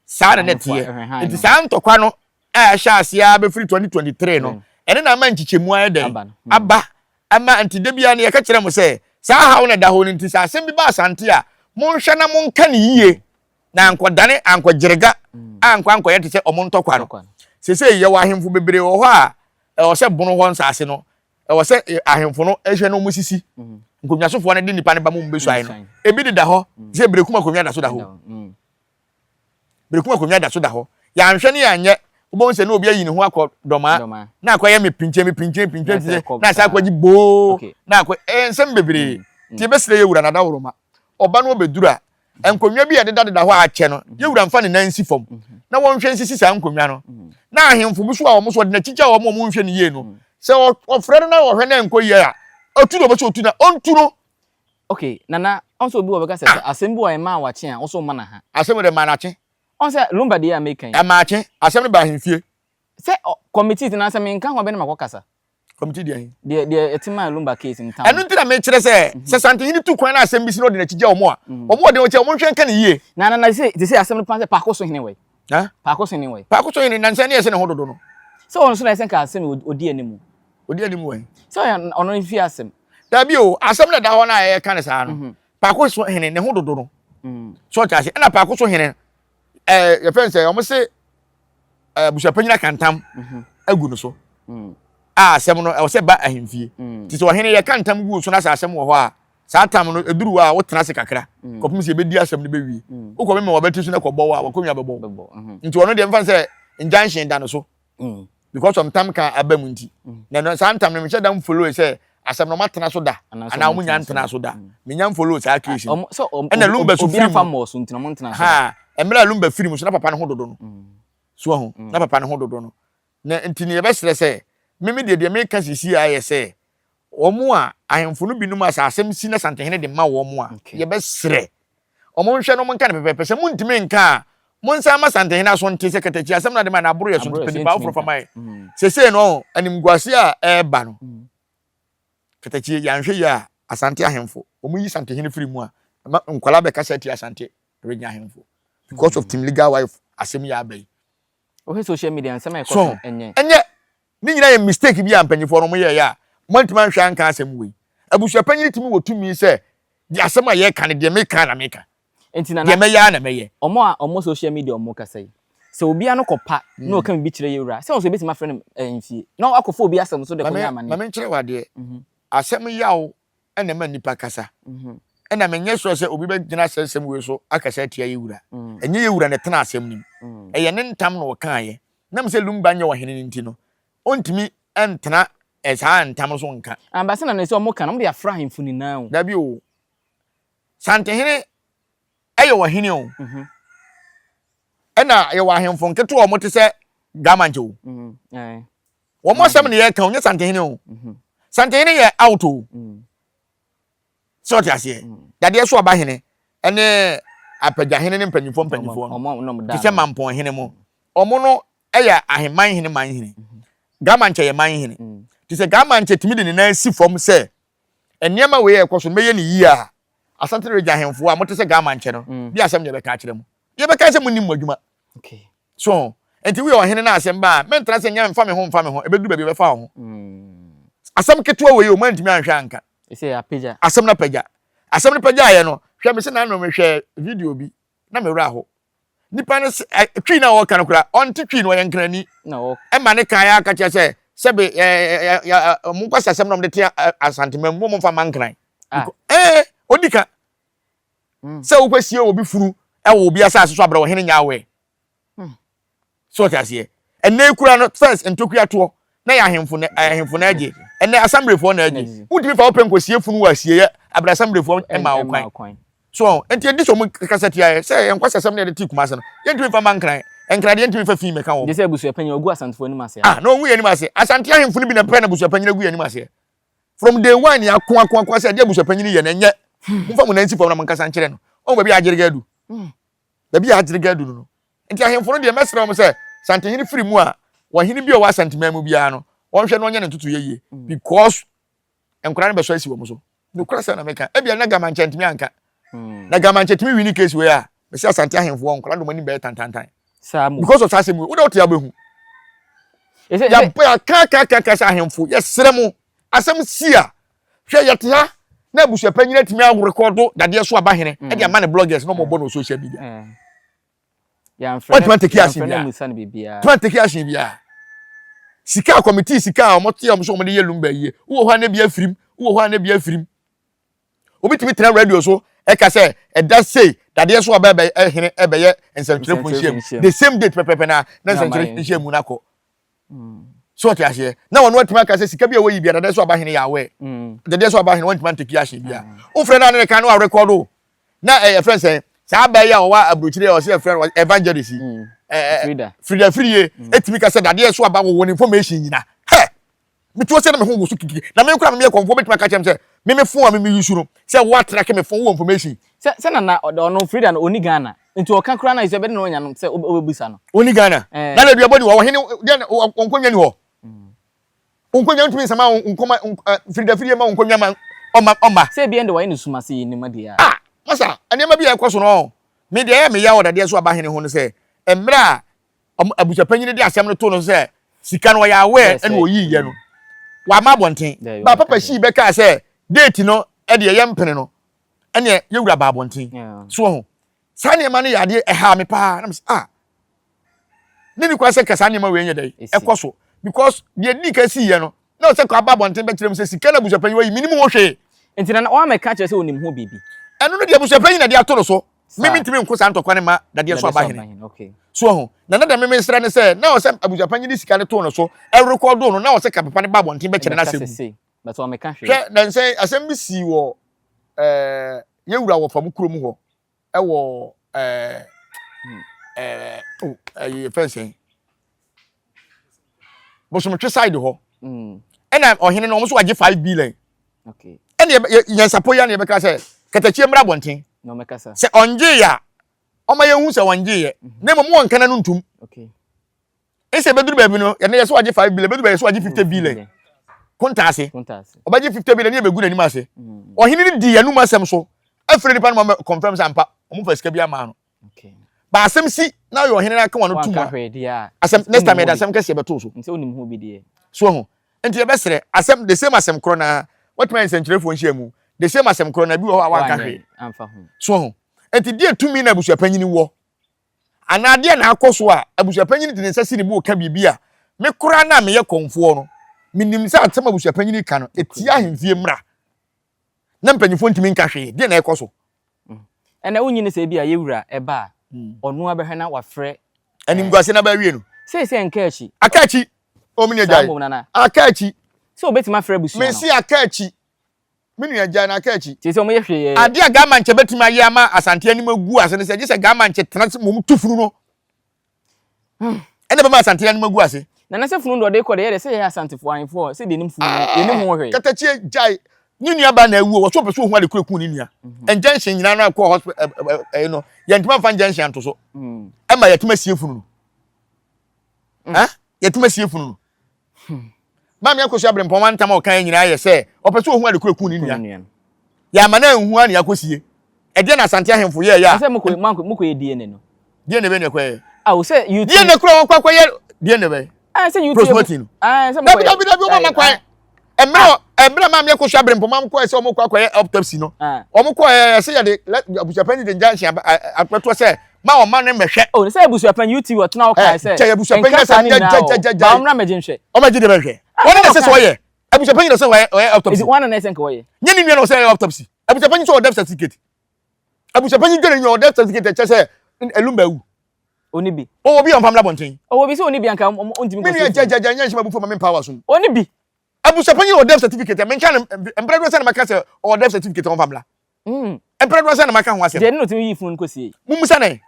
saa na nɛteɛ nti saa ntɔkwa no a ɛhyɛ aseɛ a bɛfiri 2023 no ɛne na ama nkyekyɛmu ayɛ dɛn aba Ɛma nti da biara no yɛka kyerɛ mo sɛ saa haw no a ɛda hɔ no nti, sɛ asɛm bi ba Asante a, monhwɛ na monka no yiye na ankɔdane ankɔgyerega a ankɔ ankɔyɛ te sɛ wɔn ntɔkwa no. Seesei yɛwɔ ahemfo bebree wɔ hɔ a ɛwɔ sɛ bono hɔ nsase no, ɛwɔ sɛ ahemfo no hwɛ na wɔsisi. Nkonnwasofoɔ no de nnipa no ba ma wɔbɛsuae no, ebi deda hɔ te sɛ bere kum akonnwa da so da hɔ. Berekum akonnwa da so da hɔ. Yɛanhwɛ ne yɛanyɛ, wobɛhu sɛ na obi ayi ne ho akɔ Dɔmaa, na akɔyɛ me pinkye me pinkye pinkye pinkye, na asan akɔgye boo, na akɔ eh, nsɛm bebree. Nti yɛbɛsrɛ yɛn wura Nada Woroma, ɔba no ɔbɛduru a, nkonnwa bi a ɛdedadeda hɔ a akyɛ no, yɛn wura mfa ne nan nsi fam, na wɔnhwɛ nsisi saa nkonnwa no. Na ahemfo bi nso a wɔn nso wɔde no akyigya wɔn a wɔnhwɛ no yie no, sɛ wɔfrɛ no na wɔhwɛ na ɛnkɔ yie a, ɔtu na ɔpɛ sɛ ɔtu no a, ɔntu no. Okay nana ɔn sɛ obi wɔ bɛka sɛ sɛ asɛm bi wɔ yɛ maa wakye a wo so mana ha. Asɛm wɔ dɛ maa nakye. Ɔn sɛ lumba deɛ a meka yi. Ɛmaa kye asɛm no baa ahemfie. Sɛ ɔ committee ti na sɛ menka ho a bɛ na makɔ kasa. Committee deɛ he? Deɛ deɛ ɛte maa lumba case no town. Ɛno nti na mekyerɛ sɛ sɛ santehene tu kwan na asɛm bi si na ɔde nakyi gya wɔn a wɔn ɔden ɔkyɛ wɔn nhwɛ nka no yie. Na nana te sɛ te sɛ asɛm no paa sɛ paako so hene wɔ he? Ha? Paako sen ne wɛ. Paako so yɛ ne nansa ne ɛsɛ ne ho dodo no. Sɛ ɔno so na ɛsɛ nka asɛm yi odi anim. Odi anim wɛn? Sɛ ɔyɛ ɔno ne fie asɛm. Dabi o, asɛm na ɛda hɔ no a ɛka ne saa no, paako so hene ne ho dodo no. So ɔte ase. Ɛna paako so hene ɛɛ yɛfɛ nsɛ wɔn se ɛɛ busuapanyin akantam agu no so. A asɛm no ɛwɔ sɛ ba ahemfie. Ti sɛ ɔhene yɛ kantam gu so na sɛ asɛm wɔ hɔ a saa tam no ɛduru hɔ a wotena ase kakra mm. kɔpem sɛ yɛbɛdi asɛm no bɛwie mm. wokɔ mema wɔbɛte so no kɔbɔ wo a wakɔnwa bɛbɔ wo mm-hmm. nti ɔno deɛ mfa sɛ injunction da no so mm. because of ntam ka aba mu nti na saa ntam no mehyɛ da mfollow sɛ asɛm no ɔmatena so da anaa ɔmo nya ntena so da menya mfollow saa case no ɛna lumba so firi mu ha mmerɛ a lumba firi mu so na papa no ho dodo no so ho na papa no ho dodo no Na nti no yɛbɛserɛ sɛ, me me deɛ, deɛ meka seesei ara yɛ sɛ, wɔn a ahemfo no binom a sɛ asɛm si na Asantehene de ma wɔn a, yɛbɛserɛ wɔn nhwɛ na wɔnka no pɛpɛɛpɛ. Sɛ montumi nka a, monsan mma Asantehene aso nte sɛ katakyi asɛm no ade ma no aboro yɛ so nti pɛ nipa foforɔ fa ma yɛn. Seesei no ɔho, animguaseɛ a ɛreba no, katakyi yi, yɛanhwɛ yie a, Asante ahemfo, wɔyi Asantehene firi mu a, ɛma nkwadaa bɛkasa tia Asante region ahemfo because of Tim Legal Wife asɛm yi a aba yi. Wohwɛ social media a nsɛm a ɛkɔ so no ɛnyɛ. So ɛnyɛ ne nyinaa yɛ mistake bi a mpanyinfoɔ no wɔyɛeɛ a wɔantumi anhwɛ anka asɛm wei? Abusuapanyin tumi wɔ tumi sɛ deɛ asɛm a yɛreka no deɛ meka ara na meka. Nti Nana, deɛ mɛyɛ ara na mɛyɛ. Wɔn a wɔwɔ social media a wɔkasa yi, sɛ obiara no kɔpa na ɔka biribi kyerɛ yɛwura, sɛ wɔn nso yɛbɛtumi afrɛ no fie na wakɔfa obi asɛm so de kɔyɛ amanneɛ? Ma menkyerɛ wo adeɛ, asɛm yaw na ɛma nnipa kasa. Ɛna menyɛ sure sɛ obi bɛgyina saa nsɛm wei so akasa atia yɛn wura. Ɛnyɛ yɛn wura na ɛtena asɛm no mu. Ɛyɛ ne ntam na ɔkaeɛ. Nam sɛ Lumba nyɛ ɔhene no nti no, ɔntumi ntena saa ntam no so nka. Ampa sɛ na na ɛsɛ wɔka na wɔde afra ahemfo nyinaa o. Dabi o. Santehene yɛ ɔhene o. Ɛna yɛwɔ ahemfo nketewa a wɔte sɛ Gamankyɛ o. Wɔn asɛm na yɛka o, nyɛ Santehene o. Santehene yɛ out o. Sɛ ɔte aseɛ. Dadeɛ so ɔba hene ne apagya hene ne mpanyinfoɔ mpanyinfoɔ no. Te sɛ mampɔn hene mo. Wɔn no yɛ aheman hene man hene. Gamankyɛ yɛ man hene. Te sɛ Gamankyɛ tumi de ne nan si fam sɛ Nneɛma wei a ɛkɔ so no, mɛyɛ no yie a, Asante Region ahemfo a mote sɛ Gama nkyɛ no, mm. bi asɛm na yɛbɛka akyerɛ mu. Yɛbɛka sɛ monim mo adwuma. So, nti woyɛ ɔhene na asɛm ba a, mɛntra sɛ nyɛ mfa me ho mfa me ho, ɛbɛduru baabi ɛbɛfa wo ho. Mm. Asɛm ketewa wei o, moantumi anhwɛ anka. Asɛm no apagya. Asɛm no pagyaeɛ no, hwɛ me sɛ na ano mehwɛ video bi. na me werɛ ahow. Nipa no se ɛ Twi no a ɔreka no koraa, ɔnte Twi no, ɔyɛ Nkrani. Ɛma ne kan ara ka kyerɛ sɛ, sɛbe ɛ ɛ ɛ ɛ mo nkwasiasɛm na wɔde te ɛ Asanteman mu, wɔmfa mma Nkran. Ee, odi ka sɛ wokɔsie obi funu wɔ obi asase so abrɛ ɔhene nyɛ aware. So ɔte aseɛ? Ɛnnɛ yi koraa no first ntokua toɔ na yɛ ahemfo na ahemfo na agye. Ɛnnɛ asɛmblefoɔ na agye. Wontumi fa wo pɛ nkɔsie funu wɔ asieɛ abrɛ asɛmblefoɔ mmaa wo kwan. So ɔho? Nti ɛdi sɛ ɔmo kasa tia yɛ. Sɛ yɛ nkwasasɛm na yɛde tee Kumase no, yɛntumi mfa mma Nkran. Nkran deɛ yɛntumi mfa fii mmɛka wɔn. Gye sɛ abusuapanyin a ɔgu Asantefoɔ anim aseɛ no. Ah na ɔngu yɛn anim aseɛ? Asante ahemfo no bi na ɛpɛ na abusuapanyin agu yɛn anim aseɛ? From day one yɛ ako ako ako sɛ ɛdeɛ abusuapanyin yɛ no ɛnyɛ. Momfa mo nan nsi fam na monkasa nkyerɛ no. Ɔhu baabi a agyeregɛ adu. Baabi a agyere ga adu no no, enti ahemfo no deɛ, mɛsrɛ wɔn sɛ, sɛ Antehene firi mu a, wɔn hene bi a ɔwɔ Asanteman mu biara no, wɔnhwɛ na ɔnyɛ ne ntotoeɛ yie, because nkwadaa no bɛsɔ asi wɔn so. Nokorɛ sɛm na meka. Ebia na Gamankyɛ ntumi anka. Na Gamankyɛ tumi wini case wei a, mese Asante ahemfoɔ, nkwadaa de wɔn anim bɛyɛ tantantan. Saa mu. Because of saa asɛm wei, wode wote abɛhu. Yɛkaakaakaaka sɛ ahemfo, yɛsrɛ mo, asɛm si a, Hwɛ, yɛte ha na abusuapɛ nyina tumi arekɔdo dadeɛ so aba hene mm. de ama ne bloggers na ɔmɔbɔ no social media. Mm. Wɔntumi ateke asen biara. Tumi ateke asen biara. Sika a kɔmitii sika a wɔte a wɔn so wɔde yɛ lumba yie. Wowɔ hɔ a na bi afirim. Wowɔ hɔ a na bi afirim. Obi tumi tena radio so ɛka sɛ ɛda sei dadeɛ so aba ɛbɛyɛ ɛhene ɛbɛyɛ nsɛntwerɛfo nhyiam. The same date pɛpɛpɛ na na nsɛntwerɛ nhyiam mu no akɔ. so ɔte aseɛ na wɔn atumi aka sɛ sika bi a wɔyi bi adadeɛ so aba hene yɛ awɛ adadeɛ so aba hene wɔntumi antaki ahyɛ bi a wofrɛ no a ne ne kan no arekɔdo na ɛyɛ frɛ sɛ saa abaa yi a wɔwɔ aburokyire a ɔsɛ ɛfrɛ no evangelist frida firie ɛtumi ka sɛ dadeɛ so aba wɔwɔ ne information nyina hɛ metuo sɛ na meho wɔ so kikiri na me kora memeyɛ kɔmfoɔ bɛtumi aka kyɛm sɛ meme fo a meme yusu no sɛ woatra ke me fo wɔ information sɛ nana ɔno frida no ɔni ghana Nti ɔka koraa no ayɛ sɛ ɛbɛde na ɔnya no sɛ wobɛbisa no. Wonni Ghana? Eh. Ghana aduabɔ ni hɔ, ɔhene deɛ na wɔ- wɔn nkonnwa ni hɔ. Wɔn nkonnwa ntumi nsama wɔn nkɔma nk- eh, firidafirie ma wɔn nkonnwa ma ɔma ɔma. Sɛ ebia ɛnde wɔayɛ no sum ase nneɛma deɛ a. Ah, masa, nneɛma bi a ɛkɔ so no, me deɛ ɛyɛ me yaw dadeɛ so aba hene ho no sɛ, mmerɛ a ɔmo- abusuapanyin no de asɛm no too no so sɛ sika no ɔyɛ aware Yes, ɛna eh. ɔyiiɛ no, wamma abɔnten. Daabi, Ba waka Papa deɛ. Shee bɛkaa sɛ date no deɛ yɛmpene no, ɛneɛ yɛwura ba abɔnten so ho saa nneɛma no yɛ adeɛ ɛhaa me paa na mesɛ ah ne ne kwan sɛ nka saa nneɛma wei nyɛ dɛ ɛkɔ so because deɛ di ka si yɛ no na ɔsɛ kɔ aba abɔnten bɛkyerɛ mu sɛ sika na abusuapɛnyi wɔ yi menim ho hwee nti na wɔn amɛka kyerɛ sɛ onim ho biribi ɛno no deɛ abusuapɛnyi na de ato no so mimi ntumi nko saa ntɔkwa ne ma dadeɛ so aba hene so ho na na dɛ mimi nsrɛ ne sɛ na ɔsɛ abusuapɛnyi de sika no to no so ɛrekɔdo no na ɔsɛ ka papa ne ba abɔnten bɛkyerɛ no asɛm But wɔn meka hwee. Hwɛ nansɛ yi asɛm bi sii wɔ ɛɛ yɛ wura wɔ fam kurom hɔ ɛwɔ ɛɛ ɛɛ o ɛyɛ fɛn sɛn bosomtwe side hɔ ɛna ɔhene no wɔn nso wagye five billion ɛna yɛn sapo ya na yɛbɛka sɛ katakyie mmra abɔnten sɛ ɔngye ya ɔma yɛn hu sɛ ɔngye yɛ na mmom wɔn nkana no ntum. Okay. ɛsɛ ɛbɛduru baabi no yɛne yɛ so agye 5 billion ɛbɛduru baabi yɛ so agye 50 billion kontaase ɔbɛgye 50 billion ne yɛbɛgu n'anim ase ɔhene no di yɛnum asɛm so afiri nipa no ma confirm sɛ ampa ɔmo fa sika bi ama no ba asɛm si na yɛ ɔhene no aka wɔn tum asɛm next time yɛde asɛm kɛseɛ bɛto so so ho nti yɛbɛsrɛ asɛm the same asɛm korɔ na watumi ayɛ nsɛnkyerɛfoɔ nhyia mu the same asɛm korɔ na bi wɔ hɔ a wanka hwee so ho nti deɛ tumi na abusuapanyini wɔ Anaa deɛn na akɔ so a abusuapanyini de ne nsa si ne bo reka biribi a me koraa no a meyɛ kɔmfoɔ no, menim sɛ asɛm a abusuapanyini reka no, ɛtia ahemfie mmara, na mpanimfoɔ ntumi nka hwee. Deɛn na ɛrekɔ so? Ɛnna wonnye nni sɛ ebia yɛn wura ba a, ɔno ara bɛhwɛ na wafrɛ. Animguaseɛ no aba awiei no. Seesei nka akyi. Aka akyi. O me nua gyae. Saa mmom nana. Aka akyi. Sɛ obetumi afrɛ abusua no. Mesi aka akyi. Me nua, gyae no aka akyi. Seesei wɔyɛ hwee. Ade a Garmanche betumi ayɛ ama Asante anim agu ase ne sɛ, gye sɛ Garmanche tena ase mmom tu funu no. Ɛnna ɛbɛma Asante anim agu ase. Na na sɛ funu no deɛ ɔde rekɔ deɛ, ɛyɛ dɛ sɛ yɛn Asantefo ahemfo a sɛdeɛ yɛnim funu no, yɛnim ho hwee. Katakyie, gyae. Ne nuabaa na awu o, wɔso ɔpɛ sɛ ohu ade koro ekum ne nua. Injection nyinaa no akɔ hospital ɛɛ ɛɛ no, yɛntumi amfa injection anto so. Ɛma yɛatumi asie funu no. ɛ yɛtum asie funu no hmm. maame akosua berempɔn wantam a ɔka yɛ nyinaa yɛ sɛ ɔpɛ sɛ ɔhu ade koro kun ne nua yɛama no anhu a ne akɔsie ɛdeɛ na asante ahemfo yɛɛyɛ a sɛ mokɔyɛ dna no deɛ na ɛbɛ ne ɛkɔyɛ a wo sɛ dna kora wɔkɔ akɔyɛ deɛ na ɛbɛ sɛ dabidabidabi woma ma kwan mmerɛ mmerɛ maame akɔsu abere mpoma kɔɛ sɛ wɔn kɔ akɔyɛ autopsy no ah. wɔn kɔɛ ɛsɛ yɛde abusuapɛn de ngya nhyɛn akpɛtoɔ sɛ ma wɔn ma ne mɛhwɛ. o oh, sɛ abusuapɛn uti wɔ tena ɔkaa eh, sɛ kyɛ abusuapɛn yɛ sɛ nyɛ gyɛgyɛgyɛ ba wɔn na mɛgye nhwɛ. wɔn mɛgye de bɛhwɛ wɔn na ɛsɛ sɛ wɔyɛ abusuapɛn yɛ sɛ wɔyɛ autopsy. wɔn na ɛsɛ nka wɔyɛ. nye ne nua na ɔsɛ yɛ autopsy abusuapɛn sɛ ɔdɛ certificate abusuapɛn dwere nyɛ ɔdɛ certificate kyɛ sɛ ɛlum bɛ wu. Ɔnni bi. Ɔwɔ bi a ɔmpa mmra abɔnten? Ɔwɔ bi sɛ ɔnni bi a anka ɔntumi nkɔsi afie. Me nua gyagyagya nyɛ nhyɛ m'abufuo ma mempa w'asom. Ɔnni bi. Abusuapanyin a ɔwɔ death certificate a menka no mprɛ dodoɔ sɛn na mɛka sɛ ɔwɔ death certificate a ɔmfa mmra? Mprɛ dodoɔ sɛn na maka ho asɛm? Deɛ ɛne na ɔtumi yii funu no kɔsiei. Mommisa no ɛ.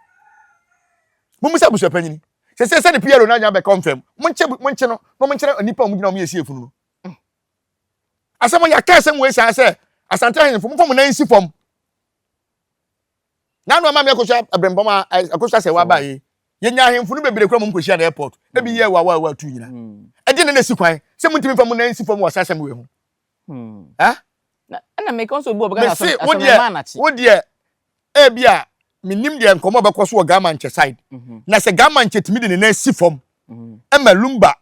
Mommisa abusuapanyin. Seesei sɛdeɛ PRO no anya abɛka ɔmfam. Monkye monkye no na wɔnkyerɛ nnipa a wɔgyina a wɔyɛ sie funu no. Asɛm yɛaka asɛm wei saa sɛ Asante ahenfo momfa mo nan nsi fam. Nanu ama me akosua abirɛmpɔm a akosua sɛ waba yi. Yɛnya ahemfo no bebree kura mu nkohyia na airport. Ebi yɛ wa wa wa tu nyina. Ɛde na na si kwan sɛ muntumi fa mu nan si fam wɔ saa asɛm wei ho. Eh? Na ɛna me kɔn so obi wɔ bɛka asɛm asɛm na ma na kyi. Wo deɛ ebi a menim deɛ nkɔmɔ bɛkɔ so wɔ Gama nkyɛ side. Na sɛ Gama nkyɛ tumi de ne nan si fam ɛma Lumba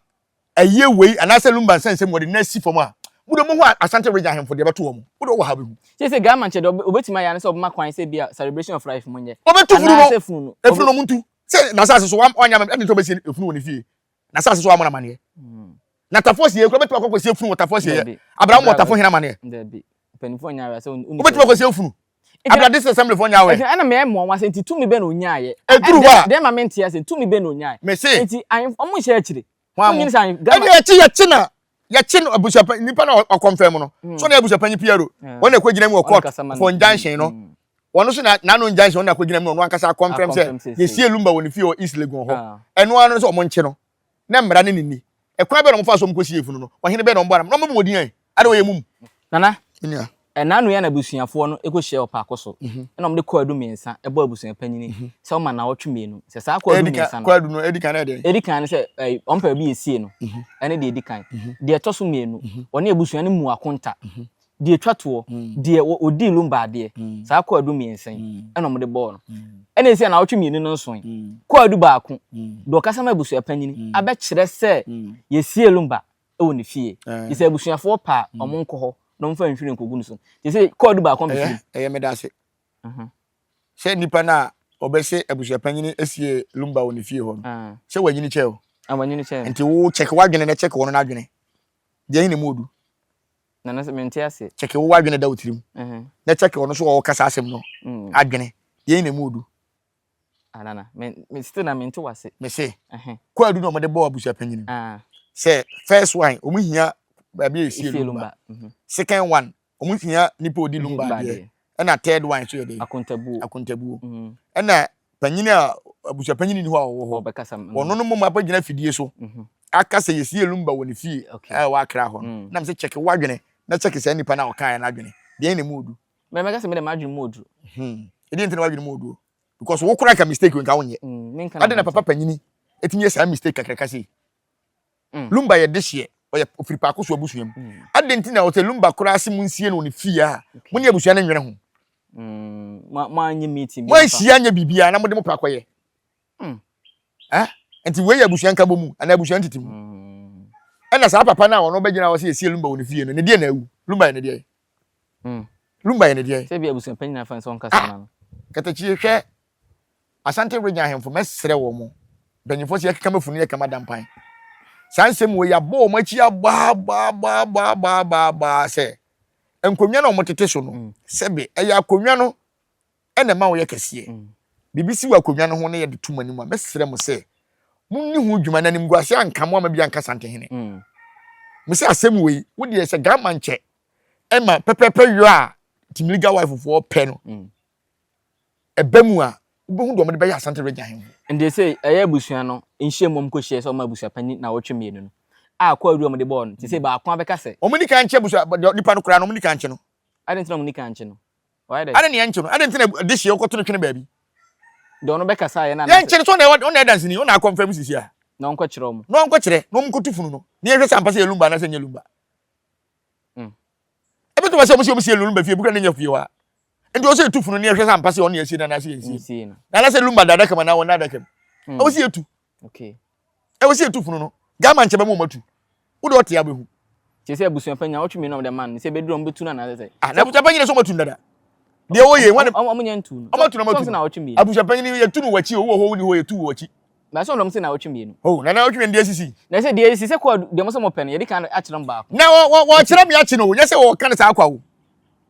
Ɛyɛ wei anaasɛ Lumba nsa nsɛm wɔde no asi fam a, mo deɛ mohu Asante Region ahemfo deɛ ɛbɛto wɔn. Wo deɛ wowɔ ha wobɛhu. Sɛ sɛ Garman kyɛ deɛ ɔbɛtumi ayɛ ara ne sɛ ɔbɛma kwan sɛ ebia Celebration of Life mo nyɛ. Ɔbɛtu funu no. Anaasɛ funu no. Efunu no montu. Sɛ n'asase so wam ɔnyɛ amammerɛ, ɛde nti ɔbɛsie efunu wɔ ne fie. N'asase so wammɔ no amaneɛ. Na Tafo Asieɛ koraa ɔbɛtumi akɔ akɔsie efunu wɔ Tafo Asieɛ. Abraham mmɔ Tafo hene amaneɛ. Dabi. Mpanimfoɔ nyɛ awa sɛ wonni sɛ. Wobɛtumi akɔsie efunu. Abrɛ District Assemblyfoɔ nyɛ aware. Ɛna meyɛ mo nwanwa sɛ nti tumi bɛn na ɔnyaaeɛ? Ɛduru hɔ a. Deɛ ɛma menteɛ sɛ tumi bɛn na ɔnyaaeɛ? Mese. Nti ahemfo wɔn nhyɛ akyire. Hwan mo? Wonnim sɛ ahemfo. Ɛna yɛkye yɛkye na yɛkye no abusuapanyin nipa na ɔkɔmfɛn mu no. So na abusuapanyin Piero wɔn na ɛkɔgyina mu wɔ court for injunction no. Wɔn nso na n'ano injunction wɔn na akɔgyina mu na ɔno ankasa akɔmfɛm sɛ yɛsie Lumba wɔ ne fie wɔ East Legon hɔ. Ɛno ara no sɛ wɔn nkye no. Na mmara ne ne nni. Ɛkwan bɛn na wɔfaa so wɔn kɔsii yafunu no? Ɔhene bɛn na wɔbɔɔ no? Na wɔbɛbɔ wɔn din ahe? Ade wɔyɛ mum. Nana, ɛna Nuya n'abusuafoɔ no kɔhyiaɛ ɔpaako so, ɛna wɔde kɔɔ adu mmiɛnsa bɔɔ abusuapanyini sɛ ɔmma nnawɔtwe mmienu. Sɛ saa kɔɔ adu mmiɛnsa no, deɛ ɛdi kan ne sɛ wɔmpɛ baabi yɛsie no, ɛne deɛ ɛdi kan. Deɛ ɛtɔ so mmienu, wɔne abusua no mmu akonta. Deɛ ɛtwa toɔ, deɛ ɔdii Lumba adeɛ, saa kwaadu mmiɛnsa yi na wɔde bɔɔ no. Ɛnna ɛsii anawɔtwe mmienu no nsoe, kwaadu baako, deɛ ɔkasa ma abusuapanyini abɛkyerɛ sɛ yɛasie Lumba wɔ ne fie, gye sɛ abusuafoɔ pɛ a wɔnkɔ hɔ na wɔmfa nhwiren nkɔgu no so. Te sɛ kwaadu baako na ɛfiri mu. Ɛyɛ, ɛyɛ me da ase sɛ nnipa no a wɔbɛse abusuapanyini asie Lumba wɔ ne fie hɔ no, sɛ wɔanyini kyɛ o. Wɔanyini kyɛ. Nti wo check w'adwene na check wɔn no adwene. Deɛn na ɛmu ɔdu? Nanase mente ase. Kyɛke wo w'adwene da wo tirim na kyɛke ɔno nso a ɔɔkasa asɛm no adwene. Deɛn na ɛmu odu? Ah Nana, me me still na mente w'ase. Mese, kwaadu na wɔde bɔɔ abusuapanyin no. Sɛ first one, wɔhia baabi a yɛsie lumba. Second one, wɔhia nipa a ɔdi lumba adeɛ. ɛna third one nso yɛ dɛ akontabuo akontabuo mm. ɛna panyin a abusuapanyin ni hɔ a ɔwɔ hɔ mm. wɔn no mmom abɛgyina fidie so mm-hmm. aka sɛ yɛsi elumba wɔ ne fie a ɛwɔ akra hɔ no mm. nam sɛ kyɛke wadwene na kyɛke saa nipa no a ɔkaeɛ no adwene deɛn na mu odu mɛmɛka sɛ mede m'adwene mu odu hmm. ɛdeɛ nti na wadwene mu odu because wo kora ka mistake nka wonyɛ ade na papa panyini ɛtumi yɛ saa mistake kakraka sei Lumba yɛ dehyeɛ, ɔyɛ ɔfiri Paakoso abusua mu. Adɛn nti na ɔsɛ Lumba koraa se monsie no wɔ ne fie a mo ne abusua no nwene ho? Moanhyia nyɛ biribiara na mode mo pɛ akɔyɛ? Nti wei yɛ abusua nkabɔ mu anaa abusua ntete mu? Ɛna saa papa no a ɔno bɛgyina hɔ sɛ yɛsie Lumba wɔ ne fie no, ne deɛ na awu? Lumba yɛ ne deɛ? Lumba yɛ ne deɛ? Sɛ bi abusua panyin afa nso ɔnkasa ma no. Katakyie hwɛ Asante Region ahemfo, mɛsrɛ wɔn, mpanyimfoɔ sɛ yɛkeka m'afunu, yɛka m'ada mpan. Saa nsɛm wɔ yi, abɔ wɔn akyi abaabaabaabaabaa sɛ nkonnwa no a wɔtete so no, mm. sɛbe ɛyɛ akonnwa no ɛna ɛma wɔyɛ kɛseɛ. Mm. Biribi si wɔ akonnwa no ho na yɛde to mo anim a, mɛsrɛ mo sɛ monni ho dwuma na animguase anka mo ama bi anka santehene. Mm. Me sɛ asɛm wɔ yi, wodeɛ sɛ gama nkyɛ ɛma pɛpɛpɛ yɔ a Timiliga wife foɔ pɛ no, ɛba mu a, wobɛhu deɛ wɔde bɛyɛ Asante Region Ahenho. Nti sei ɛyɛ abusua no nhyiam wɔn kɔ hyia sɛ wɔn abusua panin nawɔtwe mmienu no a kwaadu a wɔn de bɔɔ no te sɛ baako ara bɛka sɛ. Wɔn nikan nkye abusua deɛ nipa no koraa no wɔn nikan nkye no. Adɛn nti na wɔn nikan nkye no? Wayɛ dɛ. Adɛn na yɛnkye no? Adɛn nti na dehyeɛ wokɔto no twene baabi? Deɛ wɔn bɛkasa yɛ no anaasɛ. Yɛnkye no sɛ wɔn na ɛdanseni wɔn na akɔ mfa mu sisi a. Na wɔn kɔ kyerɛ wɔn. Na wɔn kɔ kyerɛ na wɔn kɔ tu funu no na yɛhwɛ sɛ ampa sɛ yɛ lumba anaasɛ nyɛ lumba. Ɛbɛtuma sɛ wɔn sɛ wɔn si yɛ lumba fie ebi kura ne nyɛ fie hɔ a. nti ɔsɛ etu funu ni ɛhwɛ sɛ ampa sɛ ɔne ɛsie na n'ase yɛ nsie na anasɛ lumba da adaka mu anaa wɔn adaka mu ɛwɔ sɛ etu ɛwɔ sɛ etu funu no gama nkyɛn bɛ mu wɔn atu wode ɔte abɛhu. kyerɛ sɛ abusua panyin a ɔtwe mmienu ɔmo de ma no sɛ ebeduru ɔmo betu na anasɛ sɛ. ah na abusua panyin na sɛ ɔmo atu dada. deɛ wɔyɛ wɔn de ɔmo nyɛ ntu no ɔmo atu na ɔmo atu no abusua panyin yɛ tu no wɔ akyi o wɔ hɔ wɔ ni hɔ yɛ tu wɔ akyi. na sɛ ɔnom sɛ na ɔtwe mmienu. o na na ɔtwe mmienu deɛ sisi. na sɛ deɛ sisi sɛ kɔɔ deɛ mo sɛ mo pɛ no yɛde kan akyerɛ mo baako. na wɔ wɔ wɔkyerɛ mi akyi no o nyɛ sɛ wɔka no saa akwa o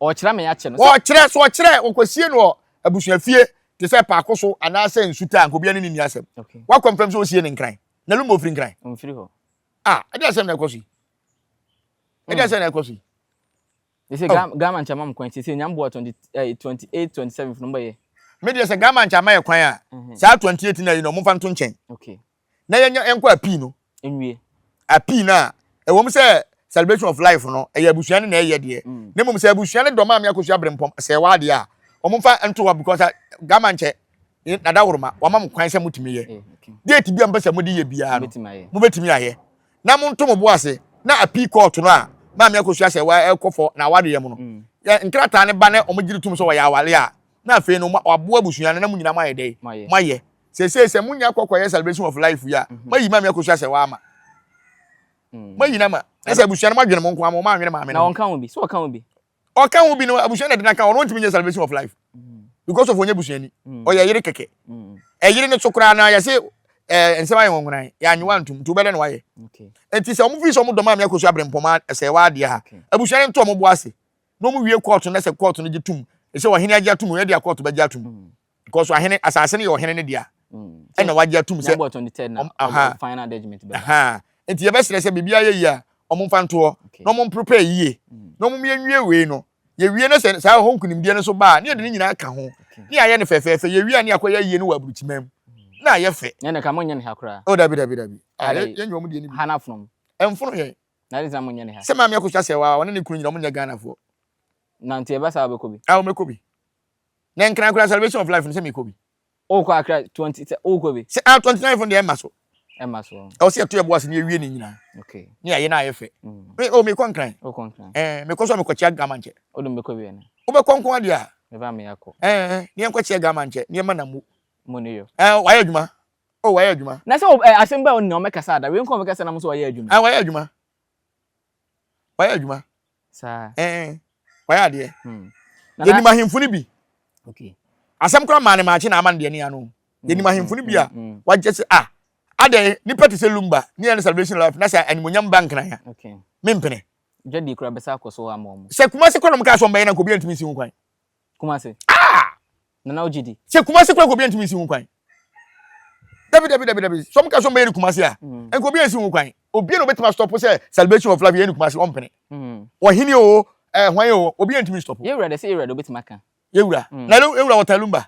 Ɔrekyerɛ me akyɛ no. Ɔrekyerɛ, so ɔkyerɛ, ɔkɔsie no wɔ abusuafie te sɛ paako so anaasɛ nsutaa anka obiara ne no nni asɛm. Woakɔ mfam sɛ wosie no Nkran. Na Lumba ɔfiri Nkran. Ɔmfiri hɔ. Ah, ɛde asɛm na ɛkɔ so yi. Ɛde hmm. asɛm na ɛkɔ so yi. They say oh. Ghana nkyɛn mam kwan sese nyam boa twenty eh, twenty eight twenty seven funu bɛyɛ. Me deɛ sɛ Ghana nkyɛn ama yɛ kwan a mhm. saa twenty eight na yi na ɔmo fa nto nkyɛn. Okay. na yɛnyɛ yɛnkɔ apii no nwie apii no a ɛwɔ mu sɛ celebration of life no ɛyɛ abusua no na ɛyɛ deɛ mm. na mmom sɛ abusua no dɔ maame akosua aberempɔm sɛ ɛwɔ adeɛ a wɔmfa nto hɔ because ah, gama nkyɛ dada woroma wama mo kwan sɛ motumi yɛ eh, date bi a mpɛ sɛ mode yɛ biara no mobɛtumi ayɛ na monto mo bo ase na apii kɔɔto no a maame akosua sɛ ɛkɔfɔ na awadeɛ mu no mm. nkrataa no ba na wɔgyere tom sɛ wɔyɛ awale a na afei no waboa abusua no na mo nyinaa moayɛ dɛn moayɛ seesei sɛ monya kɔ kɔyɛ celebration of life yi a mhm. moayi maame akɔsu asɛ waama mm. moayi no ma na sɛ abusua no moadwene mo nko ama ɔmaanwene maame no ɔka ho bi sɛ ɔka ho bi ɔka ho bi no abusua na de no aka ɔno ntumi nyɛ celebration of life mm. because of ɔnyɛ busuani mm. ɔyɛ yere kɛkɛ ɛyere no so koraa na yɛse eh, nsɛm ayɛ wɔnwonan yɛanyewa ntom nti wobɛdɛ na wayɛ nti sɛ ɔmofiri sɛ ɔmodɔ maame akɔsu aberempɔma sɛ waadeɛ ha abusua no nto ɔmobo ase na ɔmo wie kɔɔto na sɛ kɔɔto no gye tom sɛ ɔhene agye atom ɛde akɔɔto bɛgye atom Because ahene asase no yɛ ɔhene no dea. Mm. Ɛna wagye atum sɛ. Nyabɔ tɔn tɛ na. Aha. Final judgment bɛ. Aha. Nti yɛ bɛ srɛ sɛ bibi ayɛ yia. Ɔmo nfa ntoɔ. Na ɔmo mprepare yie. Mm. Na ɔmo mie nwie wei no. Yɛ wie na sɛ saa ɛhɔ nkunimdie no so baa. Ne yɛ de ne nyinaa ka ho. Ne yɛ ayɛ no fɛfɛɛfɛ. Yɛ wie a ne yɛ akɔ yɛ yie no wɔ aburukyimam. Mm. Na ayɛ fɛ. Nyɛ ne ka mo nyɛ ne ha koraa. O oh, dabi dabi dabi. Ah, yɛ nyɛ ɔmo die ne bi. Hana fonom. Ɛnfono yɛ. Na yɛ de sɛ mo nyɛ ne ha. Sɛ maame akosua sɛ wa ɔne ne kunu nyina ɔmo nyɛ Ghana foɔ. Na nti yɛ bɛ saa bɛ kɔ bi. Ah, ɔmo kɔ bi. Na nkran kura celebration of life no sɛ mekɔ bi. O kɔ akra twenty sɛ o kɔ bi. Sɛ ah twenty nine fun deɛ ɛma so. Ɛma so. Ɛwɔ sɛ yɛto yɛ bo ase ne yɛwie ne nyinaa. Okay. Ne yɛayɛ na ayɛ fɛ. Mm. Me o mekɔ nkran. O kɔ nkran. Ɛɛ eh, mekɔ so a mekɔ kyia gama nkyɛ. O de mekɔ bi ɛna. Wobɛkɔ nko adeɛ a. Meba me akɔ. Ɛɛ eh, eh, ne yɛnkɔ kyia gama nkyɛ ne yɛma na mu. Mu ne yo. Ɛɛ eh, wayɛ adwuma. O wayɛ adwuma. Na sɛ o eh, asɛm bɛ o nea ɔmɛkasa ada. Wei nko ɔmɛkasa na mo so wayɛ adwuma. Ɛɛ wayɛ adwuma. wayɛ adwuma ɛn wayɛ adeɛ hmm. yɛnim ahemfo no bi asɛm koraa maa ne maakye na ama no deɛ ne ano hmm, yɛnim ahemfo no bi a wagye sɛ ah adɛn nipa te sɛ lumba ne yɛ ne celebration life na sɛ animonyam ba nkenaya mempene dwadi kura bɛsa akɔ so ama ɔmo sɛ kuma se kɔnɔ mo kaa sɛ ɔmbɛyɛ na nkɔbi antumi nsi ho kwan Kumasi. Ah! Nana o GD. Sɛ Kumasi kura nkobi ntumi nsi ho kwan. Dabi dabi dabi dabi. Sɔm ka sɔm bɛyɛ ni Kumasi a. Mm. Nkobi nsi ho kwan. Obi na obetumi stop sɛ celebration of love yɛ ni Kumasi ɔmpene. Mm. Ɔhene o, eh hwan o, obi ntumi stop. Yɛ wura de sɛ yɛ wura de obetumi aka. Yɛ wura. Mm. Na yɛ wura wɔtan lumba.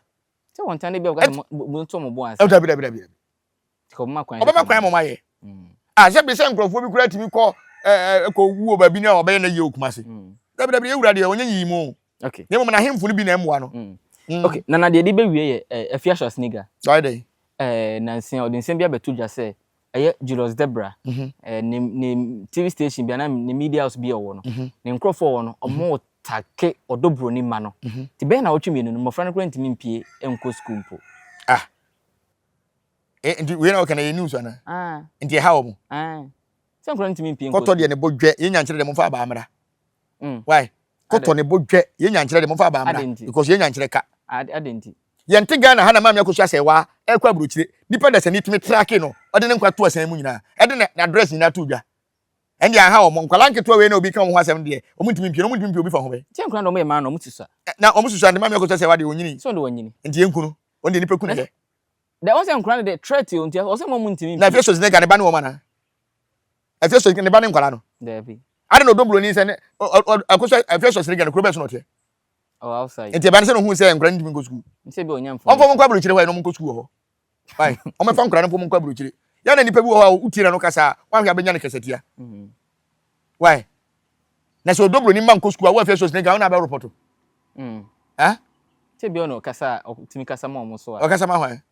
Sɛ wɔn tan de bi a wɔka mo nto mo bo ansa. Dabi dabi dabi dabi. Tikɔ bɛma kwan. Ɔbɛma kwan mo ma yɛ. Mm. Ah, sɛ bi sɛ nkurɔfoɔ bi kura tumi kɔ ɛɛ eh, eh, kɔ wuo baabi na ɔbɛyɛ na yie o Kumasi. Mm. Dabi dabi yɛ wura deɛ ɔnyɛ yiyi mu o. Okay. Na mmom n'ahemfo no bi na ɛmmoa no. Mm. Mm. Okay, na na deɛ de bɛwie yɛ eh, Afiahye Asiniga. Ɔyɛ dɛn? Eh, nansia ɔde nsɛm bi abɛto dwa sɛ ɛyɛ Julius Debra mm -hmm. eh, ne, ne TV station bi anaa ne media house bi a ɔwɔ no mm -hmm. ne nkurɔfoɔ ɔwɔ no ɔmo mm -hmm. take ɔdɔ buroni ma no mm -hmm. te bɛyɛ na ɔtwe mmienu no mmɔfra no koraa ntumi mpie nkɔ sukuu mpo. Ah. Eh, nti wei na ɔka na yɛ news ana? Ah. Nti ɛha wɔn. Ah. Sɛ nkura ntumi mpie nkɔ. Kɔtɔ deɛ ne bo dwɛ yɛn nyankyerɛ deɛ mo nfa abaa mmra. Mm. Why? Kɔtɔ ne bo dwɛ. Yɛn nyankyerɛ de momfa abaa mmra. Because yɛn nyankyerɛ ka. Ade nti. Yɛnte Ghana ha na maame akɔsu asɛe waa ɛrekɔ aburokyire. Nipa dasani tumi trake no ɔde ne nkwa to asan mu nyinaa. Ɛde ne address nyinaa to dwa. Ɛnde anha wɔn. Nkwadaa nketewa wei na obi ka wɔn ho asɛm deɛ wɔn ntumi mpie no wɔn ntumi mpie obi fa ho bɛ. Kyɛn kura na wɔn yɛ maa no wɔn susua. Na wɔn susua nti maame akɔsu asɛe waa deɛ onyini. So de onyini. Nti yɛn kunu wɔn deɛ nipa kunu yɛ. Dɛ wɔn sɛ nkwadaa no de threat o nti wɔn sɛ wɔn ntumi mpie. Na afei so zinɛ gane ba ne wɔn ana. Efeso ne ba ne nkwadaa no. Daabi. Ade na ɔdɔ buroni sɛ ne ɛkɔ so Efeso sere gya no kuro bɛn so na ɔteɛ. Ɔwɔ oh, outside. Nti ɛbɛn sɛ na ohun sɛ nkwadaa no ntumi nkɔ sukuu. Nsɛ bi ɔnya mfoni. Ɔmfɔ mu nkɔ aburokyire hɔ yɛ na ɔmo nkɔ sukuu wɔ hɔ. Why? Ɔmo fa nkwadaa no mfɔ mu nkɔ aburokyire. Yɛ na nipa bi wɔ hɔ a wotie na no kasa a wɔahwɛ abɛnya ne kasatia. Mm-hmm. Why? Na sɛ ɔdɔ buroni mma nkɔ sukuu a wɔ Efeso sere gya wo na abɛ repɔto. Mm. Ah? Sɛ bi ɔno kasa a ɔtumi kasa ma ɔmo so a. Ɔkasa ma hwan?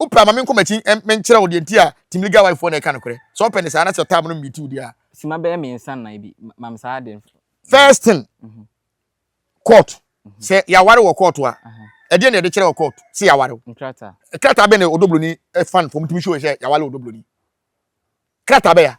Wopɛ ma menkɔ m'akyi menkyerɛ wo deɛ nti a Team Legal Wife foɔ na ɛka nokorɛ? Sɛ wopɛ no saa na sɛ ɔtaa mo no mmeeti wo deɛ a. Sima bɛyɛ mmiɛnsa nnan bi ma me saa adeɛ no. First thing, court. Sɛ yɛaware wɔ court a, ɛdeɛn na yɛde kyerɛ wɔ court sɛ yɛaware wo? Nkrataa. Krataa bɛn na ɔdɔ buroni fan foɔ motumi show yɛn sɛ yɛaware ɔdɔ buroni? Krataa bɛn a?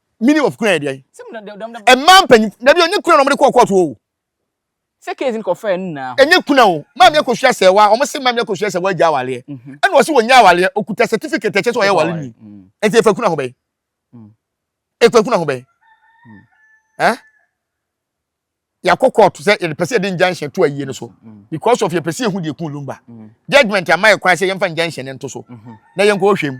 Meaning of kuna yɛ deɛ? Mmaa mpanyinfo dabi onye kuna na wɔde kɔɔ kɔɔto o. Sɛ case no kɔfɛɛ no nyinaa. Enye kuna o. Maame akosua sɛ wa wɔn se maame akosua sɛ wagya awaleɛ. Ɛna ɔse wɔnya awaleɛ okuta certificate ɛkyɛ sɛ ɔyɛ awale ni. Nti efa kuna ho bɛn? Efa kuna ho bɛn? Eh? yɛakɔ court sɛ yɛpɛ sɛ yɛde injunction to ayie no so mm. because of yɛpɛ sɛ yɛhu deɛ kun lumba mm. judgment ama yɛ kwan sɛ yɛmfa injunction no nto so mm-hmm. na yɛnkɔ hwɛ mu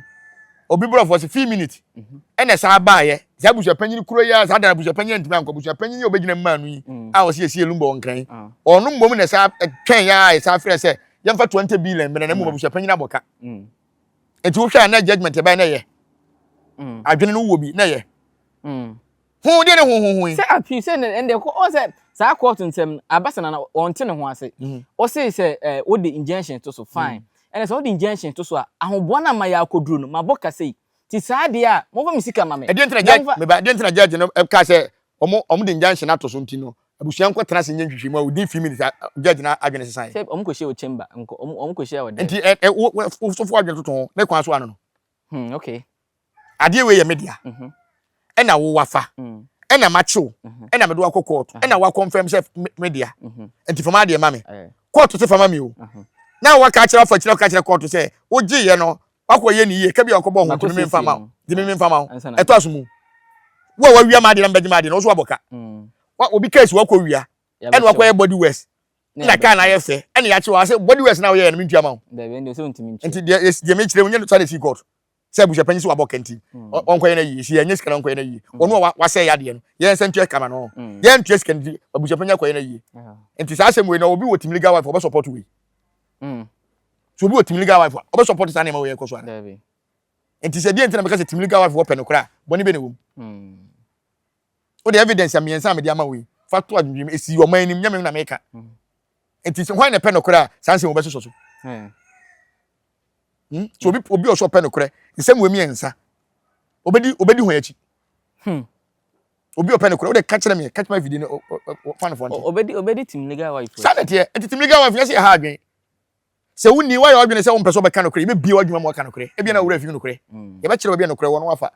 obi borɔfoɔ sɛ few minute mm-hmm. ɛna saa baayɛ saa abusuapanyin kuro yi a saa dara abusuapanyin ntumi ankɔ abusuapanyin yi a obɛgyina mu maanu yi mm. a wɔsi esie lumba wɔn kran ah. ɔno mbom na saa twɛn yɛ a saa frɛ sɛ yɛmfa twenty billion mmerɛ na mmom abusuapanyin abɔ ka nti wohwɛ a na judgment ɛbɛn na yɛ adwene no wɔ bi na yɛ Honhom deɛ ne honhom ho yi. Sɛ apii sɛ ne ɛnde kɔ ɔn sɛ saa court nsɛm no abasa na wɔn te ne ho ase. Ɔse sɛ ɛɛ wode injunction to so fine. Ɛna sɛ wode injunction to so a ahoboa no ama yɛ akɔduro no mabɔ ka sei. Ti saa deɛ a monfa me sika ma me. Ɛdeɛ nti na judge meba ɛdeɛ nti na judge no kaa sɛ wɔn wɔn de injunction ato so nti no abusua nkɔ tena ase nyɛ nhwehwɛmu a within few minutes a judge no adwene sesaeɛ. Sɛ wɔn kɔ hyia wɔ chamber nkɔ wɔn wɔn kɔ hyia wɔ dɛn. Nti ɛ ɛ wo wo sɔfo adwene toto ho ne kwan so ano no. Hmm, okay. Adeɛ wei yɛ me dea. Mhm. Ɛna wo wafa. Mm. Ɛna makye wo. Mhm. Ɛna mede wakɔ kɔɔto. Aha. Ɛna wakɔnfɛm sɛ me- me dea. Mhm. Nti fa m'adeɛ ma me. Eh, Kɔɔto se fa ma me o. aha. Na waka akyerɛ afa akyire aka akyerɛ kɔɔto sɛ wogyeeɛ no wakɔ yɛ ne yie ka bi a wakɔbɔ ho Makɔ nti meme mfa siesie ma wo. no. Nti meme mfa ma wo. Ansa na- Ɛtɔ aso mu. Wo a wawia m'adeɛ na mebɛgye m'adeɛ no wo so wabɔ ka. Mm. Wa- Obi kaa si wakɔ wia. Yɛabɛkyɛ ɛna wo. wakɔyɛ body west. na na kaa no ayɛ fɛ ɛna yɛakye wɔ ase body works na woyɛyɛ no mentua ma wo dabi ɛnde sɛ ntumi nti nkyerɛ deɛ deɛ mekyerɛ wo nyɛ no sane fii court sɛ abusuapanyin sɛ wabɔ kɛnti ɔnkɔyɛ no ayie nti yɛnyɛ sika no ɔnkɔyɛ no ayie ɔno a wasɛe adeɛ no yɛn sɛ ntua kama no yɛntua sika no nti abusuapanyin akɔyɛ no ayie nti saa asɛm wei na obi wɔ tim legal wife ɔbɛ support wei so obi wɔ tim legal wife a ɔbɛ support saa nneɛma wei ɛkɔ so ara nti sɛ deɛ nti na meka sɛ tim legal wife wɔpɛ no koraa bɔne bɛ na ɛwɔ mu Wo de evidence mmiɛnsa a mede ama wo yi, fa to adwendwene mu. Esi ɔman anim, nyɛ me na meka. Nti hwan na ɛpɛ nokorɛ a saa nsɛm wɔbɛsosɔ so? Hmm? So obi obi ɔsɔ ɔpɛ nokorɛ, nsɛm wɔ mmiɛnsa, obedi obedi ho akyi. Hmm. Obi ɔpɛ nokorɛ, wode ka kyerɛ me, catch my video no, fa no fɔ nkyɛn. Obedi obedi team legal wife. Saa na ɛteɛ, ɛte team legal wife, yɛsɛ yɛ ha adwene. Sɛ wonni, woayɛ w'adwene sɛ wompɛ sɛ wɔbɛka nokorɛ, yɛbɛbue w'adwuma ma wɔaka nokorɛ. Ebia na wo werɛ afi nokorɛ. Yɛbɛkyerɛ baabi a nokorɛ wɔ na woafa.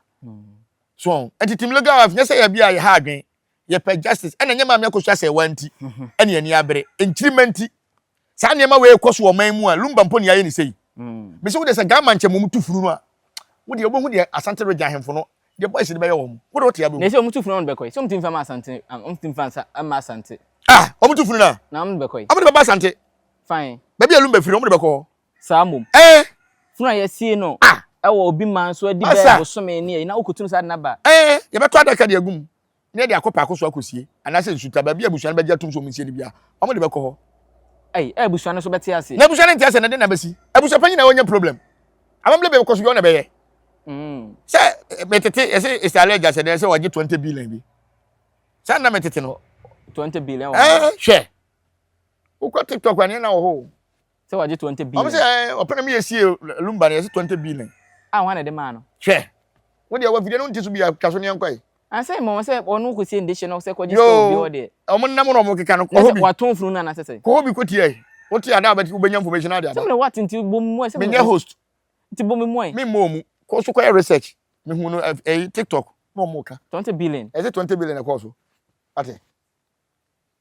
So wɔn? Enti Tim Legal Wife, nyɛ sɛ yɛn bia yɛha adwene, yɛpɛ justice, ɛna ɛnyɛ Maame Akosua Asɛewaa nti ɛne ani abere, nkyirimma nti. Saa nneɛma wei rekɔ so wɔ ɔman mu a, Lumba mpo ne yɛayɛ no sei. Mise wo deɛ sɛ Ghama nkyɛ mmom tu funu no a, wo deɛ wobɛhu deɛ Asante Region ahemfo no, deɛ boys no bɛyɛ wɔn. Wo deɛ wote a wobɛhu. Na sɛ wɔn tu funu a wɔn de bɛkɔ he? Sɛ wɔn tumi fa ma Asante a, wɔn tumi fa mma Asante. Ah! Wɔn tu funu no a? Na wɔn de bɛkɔ he? Wɔn de bɛba Asante. Fae. Baabi a ɛlum bɛfiri no, wɔn de bɛkɔ hɔ. Saa mmom. Ɛɛ. Funu a yɛasie no. Ah. Ɛwɔ obi man so adi bɛyɛ bosome ne ayi na wokɔtunu saa de no aba. Ɛɛ. Yɛbɛtɔ adaka de agu mu na yɛde akɔ paako so akɔsie anaasɛ nsuta, baabi a abusua no bɛgye atom sɛ wɔnsie no biara, wɔn de bɛkɔ hɔ. Ɛɛ. Ɛɛ abusua no nso bɛte ase. Na abusua no nte ase na ɛde na bɛsi. Abusua panyin na ɔnya problem. Amammerɛ bi a ɛbɛkɔ so bi, ɔno na ɛbɛyɛ. Mm. Sɛ metete, yɛsɛ Isale agya sɛ dɛn sɛ wɔagye 20 billion bi. Saa na metete no. 20 billion wɔ. Ɛɛ. Hwɛ. Wokɔ TikTok a nneɛma wɔ hɔ o. Sɛ wɔgye 20 billion. Wɔn sɛ ɛɛ eh, ɔpɛnɛ mi yɛ sie lumba no yɛsi 20 billion. A wɔn na de maa no. Hwɛ. Wo deɛ wɔfidie no nti so bia twa so ne yɛnkɔ yi. Ansa mmɔ wɔn sɛ wɔn kɔ sie ndehye no sɛ kɔgye sɛ obi hɔ deɛ. Yoo wɔn nam na wɔn keka no kɔhɔ bi. Wɔatɔn funu no anasɛ sɛ. Kɔhɔ bi kɔ tie yi. Wo tie ada abɛti wobɛnya information ade aba. Sɛ mene what nti bɔ mu sɛ. Menyɛ host. Nti bɔ me mu ɛ. Me mmɔ mu. Kɔ so kɔyɛ research. Me hu no ɛyi eh, eh, TikTok na wɔn ka. 20 billion. Ɛsɛ 20 billion ɛkɔɔ so. Ate.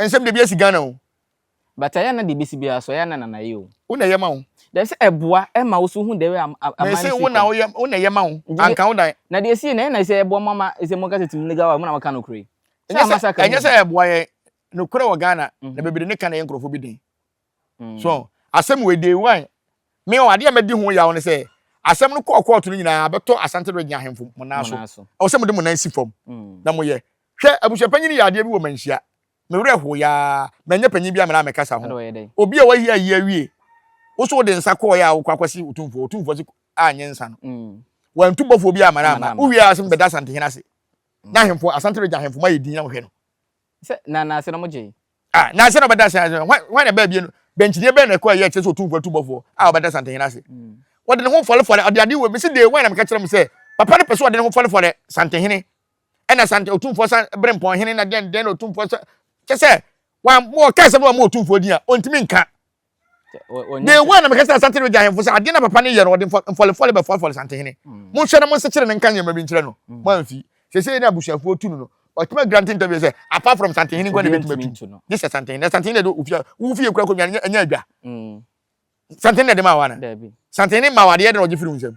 Ɛnsɛ mede bi asi Ghana o. But ɛyɛ a na deɛ bɛsi biara so ɛyɛ a na Nana yɛ o. Wo na ɛyɛ ma wo. Then sɛ ɛboa ɛma wo so hu the way a aman no si kɔ. Mese wo na woyɛ wo na ɛyɛ ma wo. Anka wo dan. Na deɛ ɛsi yɛ na ɛsɛ ɛboa mo ama ɛsɛ mo ka sɛ team legal wife mo na mo ka nokora yi. Ɛnyɛ sɛ ɛboa yɛn. Nokorɛ wɔ Ghana na bebree ne ka na ɛyɛ nkorɔfoɔ bi den. so asɛm wei day one me ɔ adeɛ a mɛdi ho yaw ne sɛ asɛm no kɔɔ kɔɔto no nyinaa abɛtɔ asante regye ahemfo mo nan so ɛwɔ sɛ mode mo nan si fam mm. na moyɛ hwɛ abusuapanyin yɛ adeɛ bi wɔ manhyia mewerɛ ho yaa manyɛ panyin bi a menaa mekasa ho obi a wayi ayi awie wo so wode nsa kɔɔyɛ a wokɔ akɔsi otumfoɔ otumfoɔ se anyɛ nsa no mm. wantu bɔfoɔ bi amana ama wowie a sɛ mebɛda asantehene ase mm. na ahemfo asante regye ahemfo ma yɛ din na mohwɛ no sɛ na na ase na mogye A Na ansa na ɔbɛda ase ase, hwan hwan na ɛbaa abien no? Dɛnkyidie bɛn na ɛkɔ a ɛyɛ ɛkyerɛ sɛ Otumfoɔ atu bɔfoɔ a ɔbɛda Santehene ase? Ɔde ne ho fɔrefɔre, ɔde adeɛ wɔ mesi day one na meka kyerɛ mo sɛ Papa no pɛ sɛ ɔde ne ho fɔrefɔre Santehene ɛna Sante Otumfoɔ San Berempɔn Hene na dɛn dɛn na Otumfoɔ sɛ kyɛ sɛ wɔn wɔka asɛm no wɔn Otumfoɔ din a ɔntumi nka de wɔ na mekasa asante regya ahemfo sɛ adeɛ na papa no yɛ no ɔde mfɔlefɔle bɛfɔlefɔle santehene mm. monhwɛ na monsekyere no nka nneɛma bi nkyerɛ no mm. moamfi sɛsei ne abusuafoɔ tu no no ɔtumi agyina ntenta bi sɛ apart from santehene nkwa ne bɛtumi atu gye sɛ santehene na santehene de ofia wofie kura kɔnwa no ɛnyɛ adwa mm. santehene na ɛde ma wa no santehene ma wa adeɛ de na ɔgye firi wo nsam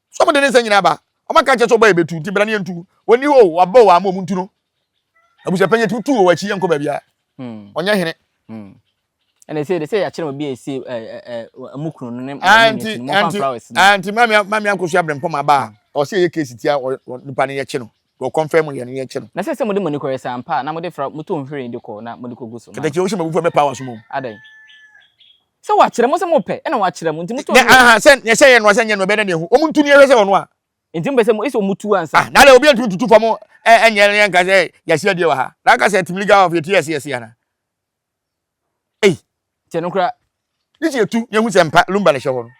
So wɔde ne nsɛm nyinaa ba? Wɔaka akyerɛ sɛ ɔbɔ a ebetu, enti bra na yentu. Onni hɔ oo, wɔabɔ wɔn ama wɔntu no. Abusuapanyin, yɛtumi tu wɔ w'akyi, yɛnkɔ baabiara. Ɔnyɛ hene. Ɛna ɛsɛ de sɛ yɛakyerɛ obi a ɛsi ɛmu kunu no ne ne ne sini mɔfa flowers no. Nti maame maame ankoso abrɛmpɔn ma aba a ɔsɛ yɛyɛ case tia nipa no yɛkye no. Wɔ kɔmfɛ mu yɛ no yɛ kyɛ no. Na sɛ sɛ mode moani kɔyɛ saa mpa a na mode fra motɔ nhwiren de kɔ na mode kɔgu so ma no. Katakyi wohyɛ m'abufuo mɛpa w'aso mu. Adɛn? Sɛ wɔakyerɛ mo sɛ mopɛ ɛna wɔakyerɛ mo nti motɔ nhwiren. Nɛ ahaa sɛ nɛ sɛ yɛ noa sɛ nyɛ noa ɛbɛyɛ dɛ na ɛhu wɔn ntu ni yɛhwɛ sɛ ɔnoa. Nti mopɛ sɛ mo ese wɔn tu ansa. Ah nada obiara ntumi ntutu fam ɛnyɛ na yɛnka sɛ yɛasi adeɛ wɔ ha na aka sɛ team league of yɛtu yɛse yɛse anaa. ei kyɛ no koraa ne sɛ yɛtu yɛhu sɛ mpa lumba na ɛhyɛ hɔ no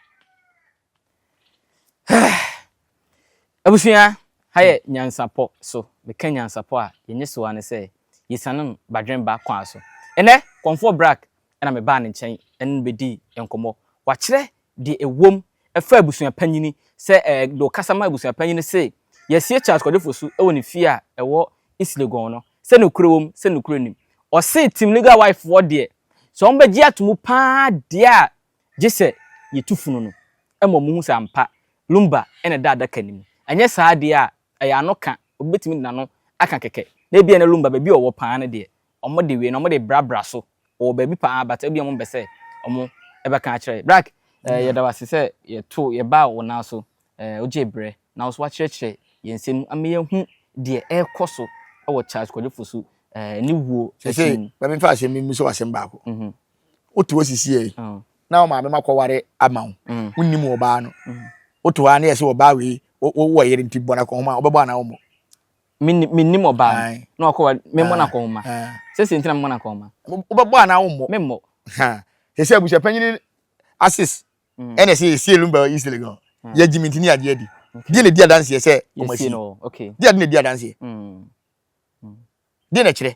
abusua ha yɛ nyansapɔ so meka nyansapɔ a yɛnyɛ so a ne sɛ yɛsiane no badwene ba kwan so ɛnɛ kɔmfoɔ brak ɛna mebaa ne nkyɛn ɛne no bɛdii nkɔmmɔ wakyerɛ Deɛ ɛwom, ɛfa abusuapanyini, sɛ ɛɛ deɛ ɔkasa ma abusuapanyini se, Yɛasie Charles Kwade Fosu wɔ ne fie a ɛwɔ East Legon no, sɛ nokorɛ wom, sɛ nokorɛ nnim. Ɔse Team Legal Wife foɔ deɛ, sɛ wɔn bɛgye ato mu pa ara deɛ a, gye sɛ yɛtu funu no ma wɔn hu sɛ ampa Lumba na ɛda adaka no mu. Anyɛ saa deɛ a, ɛyɛ ano ka, obi bɛtumi de n'ano aka kɛkɛ. Na ebia na Lumba baabi a ɔwɔ pa ara no deɛ, Ɔmo de wei no ɔmo de bra bra so ɔwɔ baabi paa but ebia ɔmo mpɛ sɛ ɔmo ɛbɛka akyerɛ. Brak ɛɛ yɛda wo ase sɛ yɛ too yɛ baa wo nan so ɛɛ wo gyee brɛ na wo so wakyerɛkyerɛ yɛn nsɛm mu ama yɛ hu deɛ ɛɛkɔ so ɛwɔ Charles Kwadwo Fosu ɛɛ ne wuo akyi Seesei mu. ma me nfa asɛm bi mmusa wo asɛm baako. Wo te hɔ sisiɛ yi na wo maame ma kɔ ware ama wo wo nnim wɔ baa no wo te hɔ aa na yɛ se wɔ baa wei wo wɔ yere nti bɔ no akɔnhoma a wo bɛbɔ anaa wo mmɔ? mennim ɔbaa no na wakɔ wa memmɔ no akɔnhoma sɛsɛ nti na memmɔ no akɔnhoma wobɛbɔ anaa wommɔ memmɔ ɛsɛ abusua panyini asis mm. ɛna ɛsɛ yɛsie no ba east legon mm. yɛgye mentini adeɛ adi deɛ na ɛdi adanseɛ sɛ ɔmasi deɛ ade na ɛdi adanseɛ mm. deɛ na ɛkyerɛ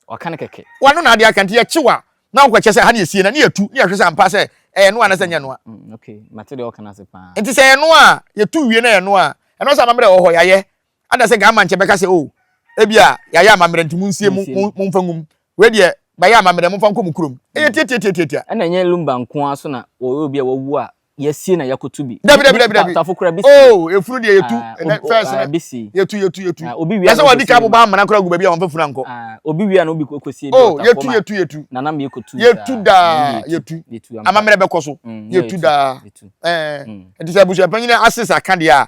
ɔka no kɛkɛ wano na adeɛ aka nti yɛkye wa na wokɔkyɛ sɛ ha ne yɛsie no ne yɛtu ne yɛhwɛ sɛ ampa sɛ ɛyɛ noa na sɛ nyɛ noa nti sɛ ɛyɛ noa a yɛtu wie na ɛyɛ noa a ɛno sɛ amammerɛ wɔ hɔ yɛayɛ Adasɛ nka ama nkyɛ bɛka sɛ, Oh, ebia yɛayɛ amammerɛ nti munsie, momfa ngum. Wei deɛ, mayɛ amammerɛ, momfa nkɔ mo kurom. Ɛyɛ tiatiatiatiatia. Ɛna ɛnyɛ Lumba nko ara nso na wɔyɛ obi a wawu a, yɛasie na yɛakoto bi. Dabi, dabi, dabi, dabi. Tafo koraa, bisi. Oh, efunu deɛ yɛtu, ɛnɛ, first no, yɛtu, yɛtu, yɛtu. Yɛ sɛ wɔadi kan abobɔ amena koraa agu baabi a wɔmfa funu ankɔ. Obi wie a na obi kɔsie bi wɔ tafo mu a, na na mekɔtu saa. Yɛtu daa, yɛtu. Amammerɛ bɛkɔ so. Yɛtu daa. Ɛɛ, ɛnti sɛ abusuapanyin no ase sa ka deɛ a,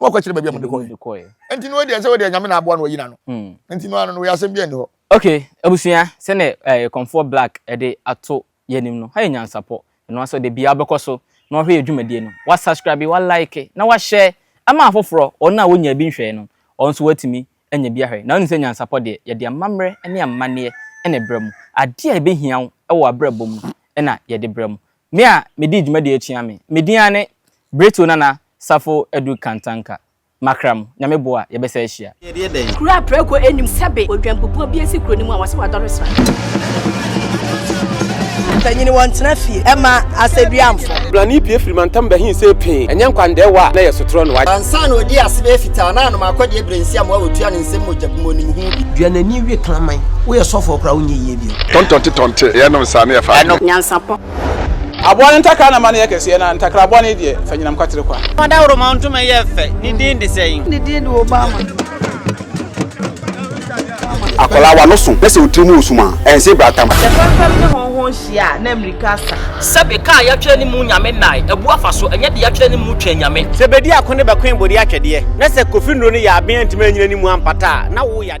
na wakɔkyerɛ baabi a mode kɔɛ nti no deɛ sɛ wodeɛ nyame na aboa no wayi n'ano hmm. nti no ano no woyɛ asɛm bi ɛni hɔ ok abusua sɛne eh, kɔmfoɔ black ɛde ato yɛnim no ha yɛ nyansapɔ ɛno asɛ ɔde bia wobɛkɔ so na wahwɛ yɛ adwumadie no wasubscribe walike na wahyɛ ɛma afoforɔ ɔno a wonya bi nhwɛe no ɔno nso watumi anya bi ahwɛ na wonim sɛ nyansapɔ deɛ yɛde amammerɛ ne amanneɛ ɛna ɛbrɛ mu adeɛ a ɛbɛhia wo wɔ abrabɔ mu ɛna yɛde brɛ mu Me a medii dwumadie atua me. Me din ara ne Brɛtuo Nana Safo Adu Kantanka. Makram, Nyame boa, yɛbɛsa ahyia. Kuro a prɛko nnim sɛbe odwanpupuo bi asi kuro no mu a wɔse wadɔre sra. Mpanyini wɔntena fie ɛma asɛduamfo. Brani pue firi mantam bɛhen sɛ pee, ɛnyɛ nkwandɛɛwa a na ɛyɛ sotorɔ na wagye. Ansa na ɔdi ase bɛyɛ fitaa na anom akɔdeɛ berɛnsiam a wɔtua no nsɛm mogya bmɔnim ho bi. Dua n'ani we kraman. Woyɛ sɔfoɔ koraa wonyɛ yie. yie. Tɔntɔnte tɔnte yɛ nom saa ne yɛ fa adwene. Nyansapɔ. Aboa no ntakra na ma no yɛ kɛseɛ na ntakraboa no deɛ fa nyinam kwatere kwa. Ɔdawuroma ntoma yɛ fɛ, ne din de sɛn? Ne din de Obama. Akwadaa w'ano so na sɛ wo tiri mu wɔ sum a, ɛnse bra tam. Sɛ fɛmfɛm ne hɔnhɔn hyia a, na mmirika asa. Sɛbe kaa yɛatwerɛ ne mu nyame nnae, abu afa so, ɛnyɛ deɛ yɛatwerɛ ne mu twɛn nyame. Sɛ bedi ako ne bɛkoe bode atwɛdeɛ, na sɛ Kofi Nnuro no yɛ aben antumi anyina ne mu ampata a, na wo yadeɛ.